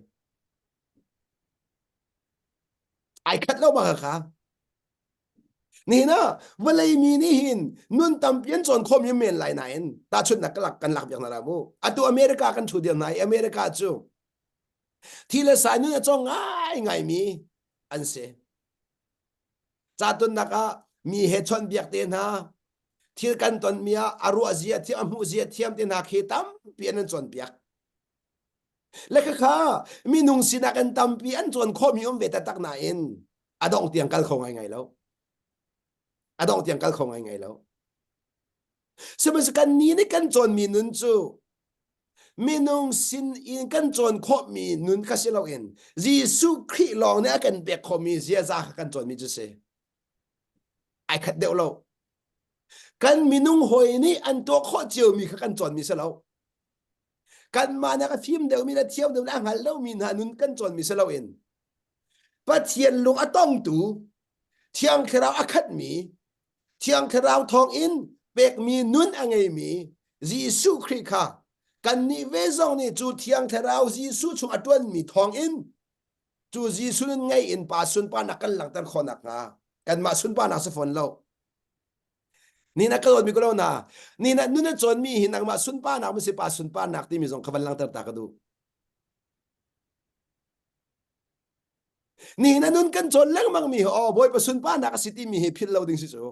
ai khat lo ma kha nihin ah vawlei mi nih hin nun tampi an cawn khawm hi men lai nain tahchunhnak ka lak kan lak piak hna la mu atu america kan thu dir hna i america cu Thi le sai nun a cawng ngaingai mi an si. Catunnak ah mi he chon biak te hna thil kan ton mi ah a ruah zia thiam a hmuh zia thiam te hna khi tampi an an piak le kha minung sinak an tampi an chuan kho mi um ve ta tak na in adong tiang kal kho ngai ngai lo adong tiang kal kho ngai ngai lo Sihmanhsehlaw kan ni nih kan cawnmi nun cu minung sin in kan cawn khawhmi nun kha si loin Jesuh Khrih lawng nih a kan pek khawhmi ziaza kha kan cawnmi cu si. Ai khat deuh lo. Kan minung hawi nih an tuah khawh ciomi kha kan cawnmi si lo. Kanmah nih a fim deuhmi le thiam deuhmi a hngal lomi hna nun kan cawnmi si loin Pathian lung a tongtu, Thiang Thlarau a khatmi Thiang Thlarau thawngin pekmi nun a ngeimi Jesuh Khrih kha kannih ve zong nih cu Thiang Thlarau Jesuh chung a ṭuanmi thawngin cu Jesuh nun ngei in pa sunparnak kan langhter khawh nakhnga kanmah sunparnak si fawn lo. Ni na ka dawtmi ko lo na, ni na nun na cawnmi hi nangmah sunparnak masi pa sunparnak timi zong kha van langhter ta ka duh. Nihin ah nun kan cawn lengmang mi hi aw Bawipa sunparnak a si timi hi philh lo ding si cu.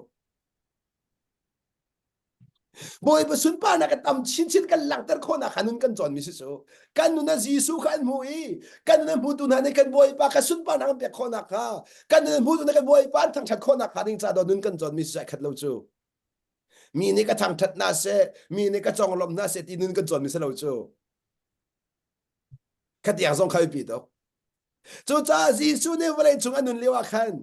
Bawipa sunparnak a tam chinchin kan langhter khawhnak kha nun kan cawn mi si cu. Kan nun ah Jesuh kha an hmu i kan nun a hmutu hna nih kan Bawipa kha sunparnak an pek khawhnak kha kan nun a hmutu hna kan Bawipa an thangṭhat khawhnak hnga ding ca dawh nun kan cawn mi si cu ai khat lo cu. Mi nih ka thangṭhat hna seh, mi nih ka conglawmh hna seh ti nun kan cawn mi si lo cu. Khatiang zong kha biapi tuk. Cucaah Jesuh nih vawleicung a nun lio ah khan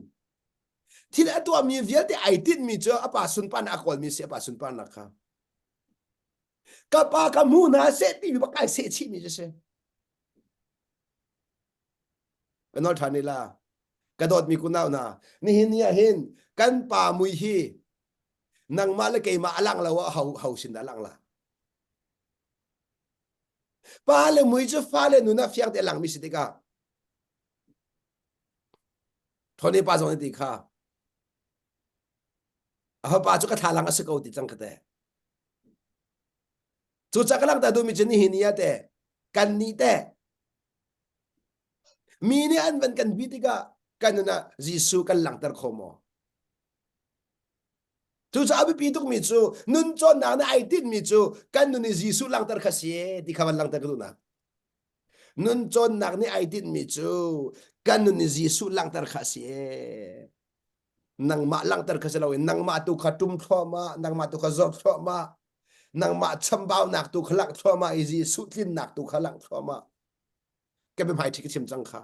thil a tuahmi vialte ai tinhmi cu a pa sunparnak a kawlmi si a pa sunparnak kha ka pa ka hmu hna seh ti bak kai seh chihmi cu si ka nol ṭhan ila ka dawtmi kunau hna nihin ni ah hin kan pa mui hi nangmah le keimah a lang lo a ho ho sin dah lang la Pa le mui cu fale nun ah fiang te a langmi si tikah ṭhawne pa zong nih ti kha a fapa cu ka thlalang a si ko ti cang kha te cucah ka langhter duhmi cu nihin ni ah te kan nih te mi nih an van kan bi tikah kan nun ah Jesuh kan langhter kho maw? Cucaah a biapi tukmi cu nun cawnnak na ai tinhmi cu kan nun i Jesuh langhter kha si ti kha van langhter ka duhnak. Nun cawnnak nih ai tinhmi cu kan nun i Jesuh langhter kha si nangmah langhter kha si loin nangmah tu kha ṭum thluahmah nangmah tu kha zawt thluahmah nangmah chambaunak tu kha langh thluahmah i Jesuh tlinnak tu kha langh thluahmah ka biahmai ṭhi ka chim cang kha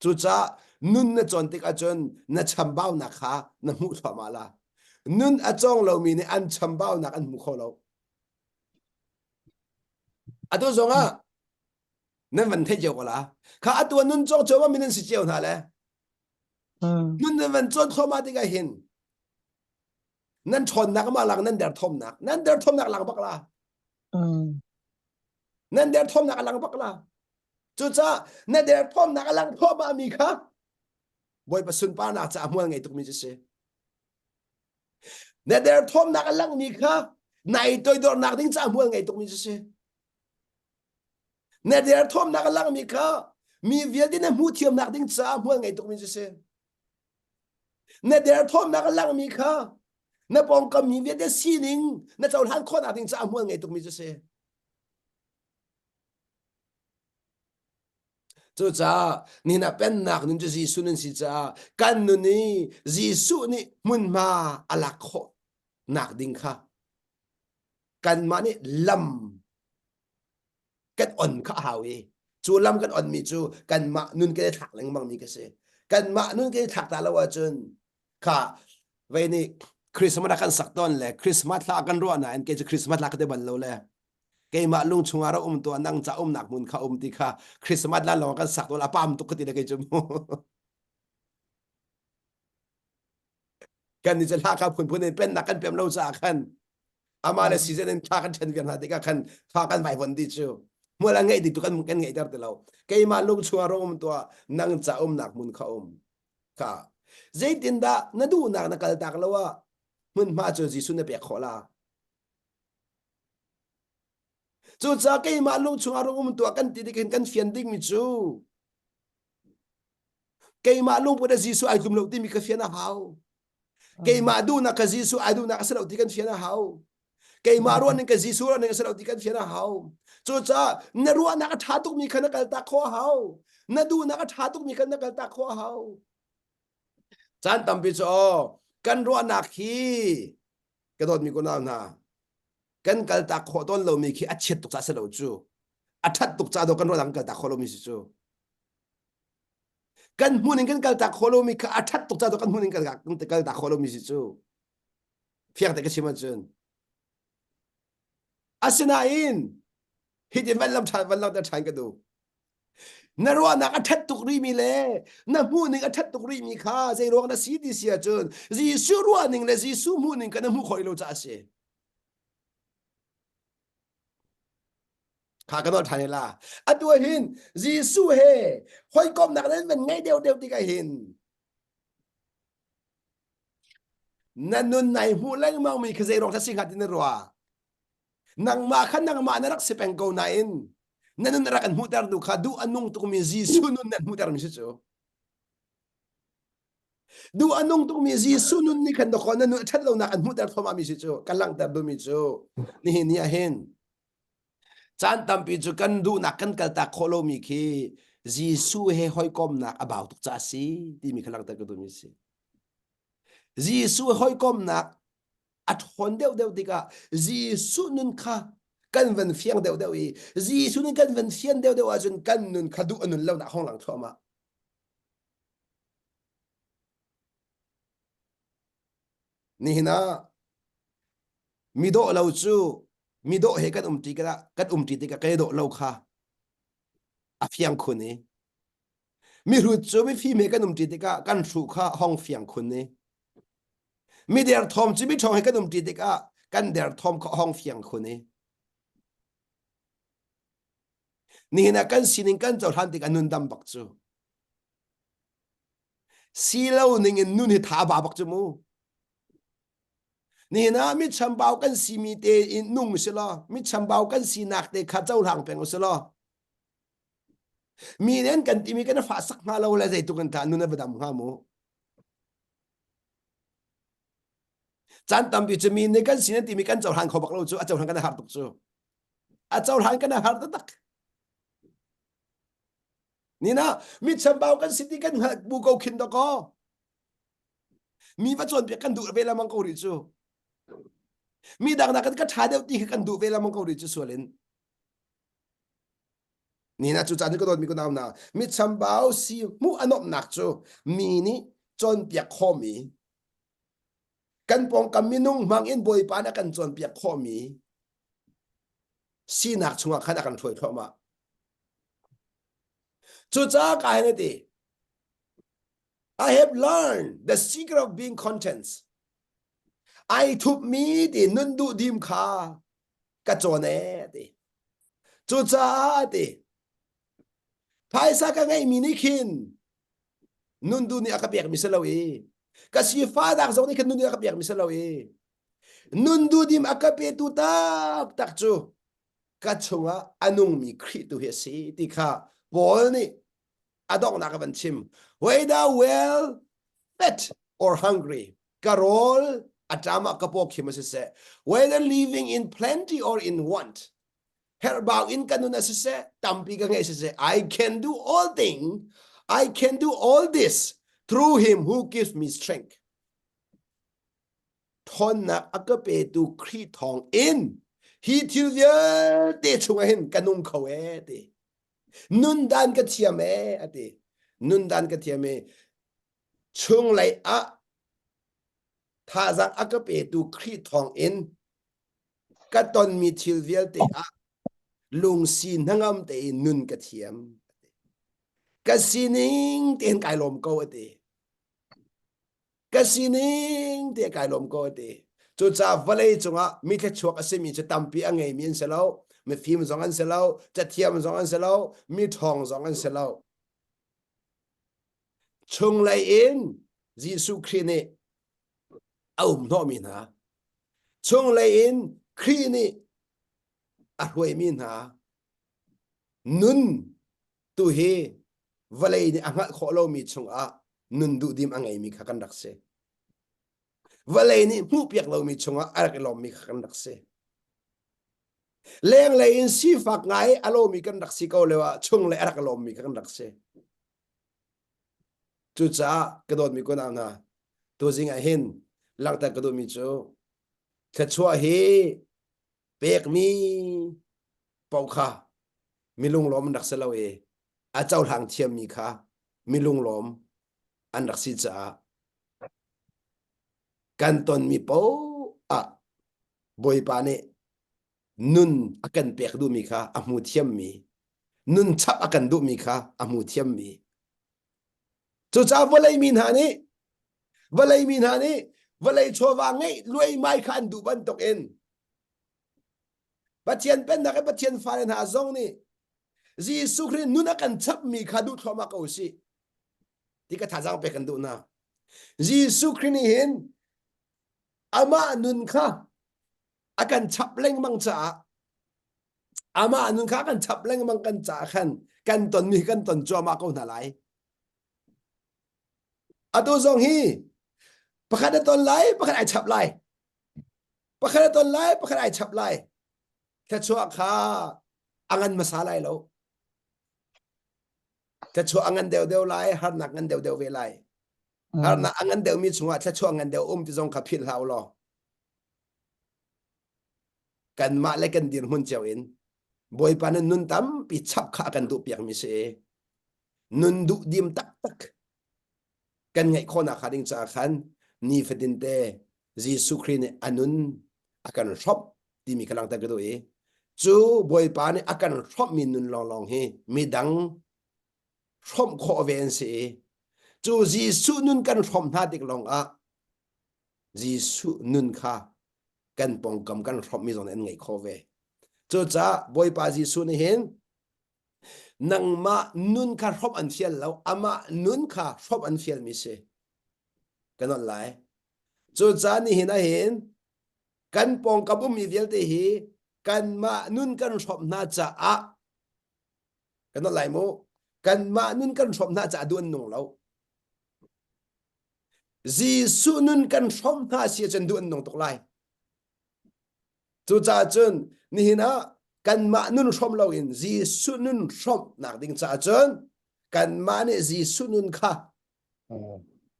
Cucaah nun na cawn tik ahcun na chambaunak kha na hmuh thluahmah la. Nun a cawng lomi nih an chambaunak an hmu kho lo. Atu zongah nan van theih cio ko la. Kha atu ah nun cawng cio ma mi nan si cio hna le. Nun nan van cawn thluahmah tikah hin nan ṭhawnnak ma lang nan derthawmnak nan derthawmnak lang bak la. Nan derthawmnak a lang bak la. Cucaah na derthawmnak a lang thluahmahmi kha Bawipa sunparnak caah hmual ngei tukmi cu si. Na derthawmnak a langmi kha nai toidornak ding caah hmual ngei tukmi cu si. Na derthawmnak a langmi kha mi vialte na hmuh thiamnak ding caah hmual ngei tukmi cu si. Na derthawmnak a langmi kha na pawngkam mi vialte sining na cohlan khawhnak ding caah hmual ngei tukmi cu si. Cucaah nihna pennak nun cu Jesuh nan si caah kan nun i Jesuh nih hmunhma a lak khawh nak ding kha kanmah nih lam kan on kha a hau i cu lam kan onmi cu kanmah nun kan i thlak lengmang mi ka si. Kanmah nun kan i thlak ta lo ahcun kha vei nih Christmas a kan sak tawn le Christmas hla kan ruah nain kei cu Christmas hla ka ti bal lo le keimah lung chungah rak um tuah nang ca umnak hmun kha um ti kha Christmas lan lawng kan sak tual a pam tuk ka ti le kei cu mu kan ni hla ka phun phun in pennak kan pem lo caah khan ama le season in thla kan chen vian hna tikah khan thla kan vai von di chu muala ngai di tu kan kan ngai ter ti lo keimah lung chungah ro um tuah nang ca umnak hmun kha um ka zeitin dah na duhnak na kal tak lo a hmun hma cu Jesuh na pek khawla Cucaah keimah lung chungah rak um tuah kan ti nih kan fian dingmi cu keimah lungput ah Jesuh ai tlum lo timi ka fian a hau. Keimah duhnak ka Jesuh ai duhnak a si lo ti kan fian a hau. Keimah ruahning ka Jesuh ruahning a si lo ti kan fian a hau. Cucaah na ruahnak a ṭha tukmi kha na kaltak khawh a hau. Na duhnak a ṭha tukmi kha na kaltak khawh a hau. Caan tampi cu aw, kan ruahnak hi ka dawtmi ku nau hna kan kal ta khawh tawn lomi khi a chiat tuk ca si lo cu a that tuk ca do kan ruah kan kal ta khawh lomi si cu kan hmun in kan kal ta khawh lomi kha a that tuk ca do kan hmun in kal ta khawh lomi si cu fiang te ka chim ahcun asinain hitin van lam than van lam ta than ka du Na ruahnak a ṭhat tuk rihmi le na hmuhning a ṭhat tuk rihmi kha zeiruang na si ti si ahcun Jesuh ruahning le Jesuh hmuhning kan na hmuh khawh lo caah a si. Kha kan ol ṭhan la. Atu ahhin Jesuh he hawikomhnak nan van ngei deuhdeuh tikah hin na nun nai hmuh lengmangmi kha zeiruang si hnga ti na ruah? nangmah kha nangmah na rak si peng ko nain na nun rak an hmuhter tu kha duh a nung tukmi Jesuh nun nan hmuhtermi si cu duh a nung tukmi Jesuh nun nih khan dawkhaw na nun a ṭhat lonak an hmuhter thluahmahmi si cu kan langhter duhmi cu nihin ni ah hin caan tampi cu kan duhnak kan kaltak khawh lomi khi Jesuh he hawikomnak a bau tuk ca a si timi kha langhter ka duhmi a si Jesuh hawikomnak a ṭhawn deuhdeuh tikah Jesuh nun kha kan van fiang deuhdeuh i Jesuh nih kan van fian deuhdeuh ahcun kan nun kha duh a nun lonak hong lang thluahmah. Nihin ah mi dawh lo cu mi dawh he kan um ṭi tikah kan um ṭi tikah ka dawh lo kha a fiang khun i Mihrut cu mifim he kan um ṭi tikah kan hru kha hong fiang khun i mi derthawm cu miṭhawng he kan um ṭi tikah kan derthawm kha hong fiang khun i nihin ah kan sining kan cohlan tikah nun dam bak cu si lo ning in nun hi tha ba bak cu mu nihin ah mi chambau kan simi te in nung u si law mi chambau kan sinak te kha cohlang peng u si law Mi nih an kan timi kan fah sak hnga lo le zeitluk in tah nun a va dam hnga mu. Caan tampi cu mi nih kan sin an timi kan cohlan kho bak lo cu a cohlan kan a har tuk cu. A cohlan kan a har taktak. Nina mi chambau kan siti kan hngalh bu ko khin to ko. Mi va cawn piak kan duh ve lamang ko ri cu. Mi dang nak kan ka tha deuh ti khi kan duh ve lamang ko ri cu sualin. Ni na cu caan hi ka dawtmi ku nau na mitchambau si hmuh anomhnak cu mi nih cawnpiak khawhmi kan pawngkam minung hmang in Bawipa nih a kan cawnpiak khawhmi sinak chungah khan a kan hruai thluahmah. Cucaah ka hei ti I have learned the secret of being content. Ai thupmi ti nun duh dim kha ka cawn e ti cucaah ti phaisa ka ngeihmi nih khin nundu nih a ka pekmi si lo i ka sifadak zong nih khin nundu nih a ka pekmi si lo i nundu dim a ka petu taktak cu ka chungah a nungmi Khrih tu hi a si ti kha Paul nih a donghnak a van chim whether well fed or hungry ka rawl a ṭam ah ka paw khim a si seh whether living in plenty or in want herhbau in ka nun a si seh tampi ka ngeih si seh I can do all thing I can do all this through him who gives me strength ṭhawnnak a ka petu Khrih thawng in hi thil vialte chungah hin ka nung kho e ti nundan ka thiam e ati nundan ka thiam e chung lei ah thazang a ka petu kri thong in ka ton mi thil vialte ah lungsi hnangam te in nun ka thiam ka sining ten kai lom ko ati ka sining te kai lom ko te cu ca vale cungah mi thluachuak a simi cu tampi a ngeimi an si lo mifim zong an si lo cathiam zong an si lo mi ṭhawng zong an si lo chunglei in Jesuh Khrih nih a um hnawhmi hna chunglei in Khrih nih a hruaimi hna nun Tuhi vawlei nih a hngalh khawh lomi chungah nun duhdim a ngeimi kha kan rak si. Vawlei nih hmuhpiak lomi chungah a rak i lawmmi kha kan rak si. Lenglei in sifak ngai a lomi kan rak si ko leo ah chung le a rak i lawmmi kha kan rak si. Cucaah ka dawtmi kunau hna, tuzing ah hin langhter ka duhmi cu thluachuah hi pekmi pau kha milunglawm an rak si lo i a cohlang thiammi kha milunglawm an rak si caah kan tonmi paoh ah bawipa nih nun a kan pek duhmi kha a hmu thiammi nun chap a kan duhmi kha a hmu thiammi Cucaah vawlei mi hna nih vawlei mi hna nih vawlei chawva ngeih lueimai kha an duh bantuk in Pathian pennak i Pathian fale hna zong nih Jesuh Khrih nun a kan chapmi kha duh thluahmah ko sih ti ka thazaang pek kan duh hna. Jesuh Khrih nih hin amah nun kha a kan chap lengmang caah Amah nun kha kan chap lengmang kan ca khan kan tonmi kan ton cuahmah ko hna lai. Atu zong hi pakhat a ton lai, pakhat ai chap lai. Pakhat a ton lai, pakhat ai chap lai. Thluachuah kha a ngan hmasa lai lo. Thluachuah a ngan deuhdeuh lai, harnak ngan deuhdeuh ve lai. Harnak a ngan deuhmi chungah thluachuah ngan deuh um ti zong kha philhhlau law kanmah le kan dirhmun cio in bawipa nan nun tampi chap kha a kan duh piakmi si i nun duh dim taktak kan ngeih khawhnak hnga ding caah khan nifatin te Jesuh Khrih nih a nun a kan hrawmh timi ka langhter ka duh i cu bawipa nih a kan hrawmhmi nun lawnglawng hi midang hrawmh khawh ve an si i cu Jesuh nun kan hrawmh hna tik lawng ah Jesuh nun kha kan pawngkam kan hrawmhmi zong an ngaih khawh ve. Cucaah Bawipa Jesuh nih hin nangmah nun kha hrawmh an fial lo, amah nun kha hrawmh an fialmi si. Kan on lai. Cucaah nihin ah hin kan pawngkam ummi vialte hi kanmah nun kan hrawmh hna caah kan on lai mu. Kanmah nun kan hrawmh hna caah duh an nung lo. Jesuh nun kan hrawmh hna si ahcun duh an nung tuk lai. Cucaah cun nihin ah kanmah nun hrawm loin Jesuh nun hrawmhnak ding caah cun kanmah nih Jesuh nun kha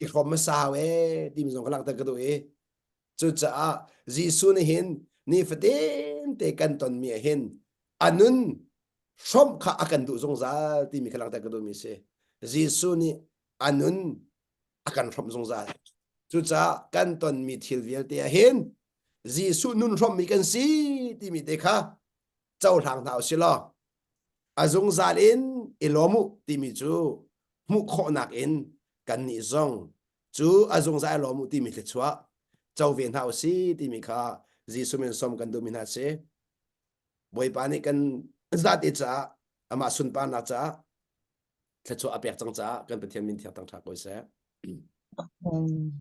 i hrawm hmasa hau ee timi zong ka langhter ka duh i Cucaah Jesuh nih hin nifatin te kan tonmi ah hin a nun hrawmh kha a kan duh zungzal timi kha langhter ka duhmi a si. Jesuh nih a nun a kan hrawmh zungzal. Cucaah kan tonmi thil vialte ah hin Jesuh nun hrawmmi kan si timi te kha cohlang hna u si law a zungzal in i lawm u timi cu hmuh khawhnak in kannih zong cu a zungzal lawm u timi thluachuah co ve hna u si timi kha Jesuh min som kan duhmi hna si Bawipa nih kan zate caah amah sunparnak caah thluachuah a pek cang caah kan Pathian min thiang tang ṭha ko seh. Amen.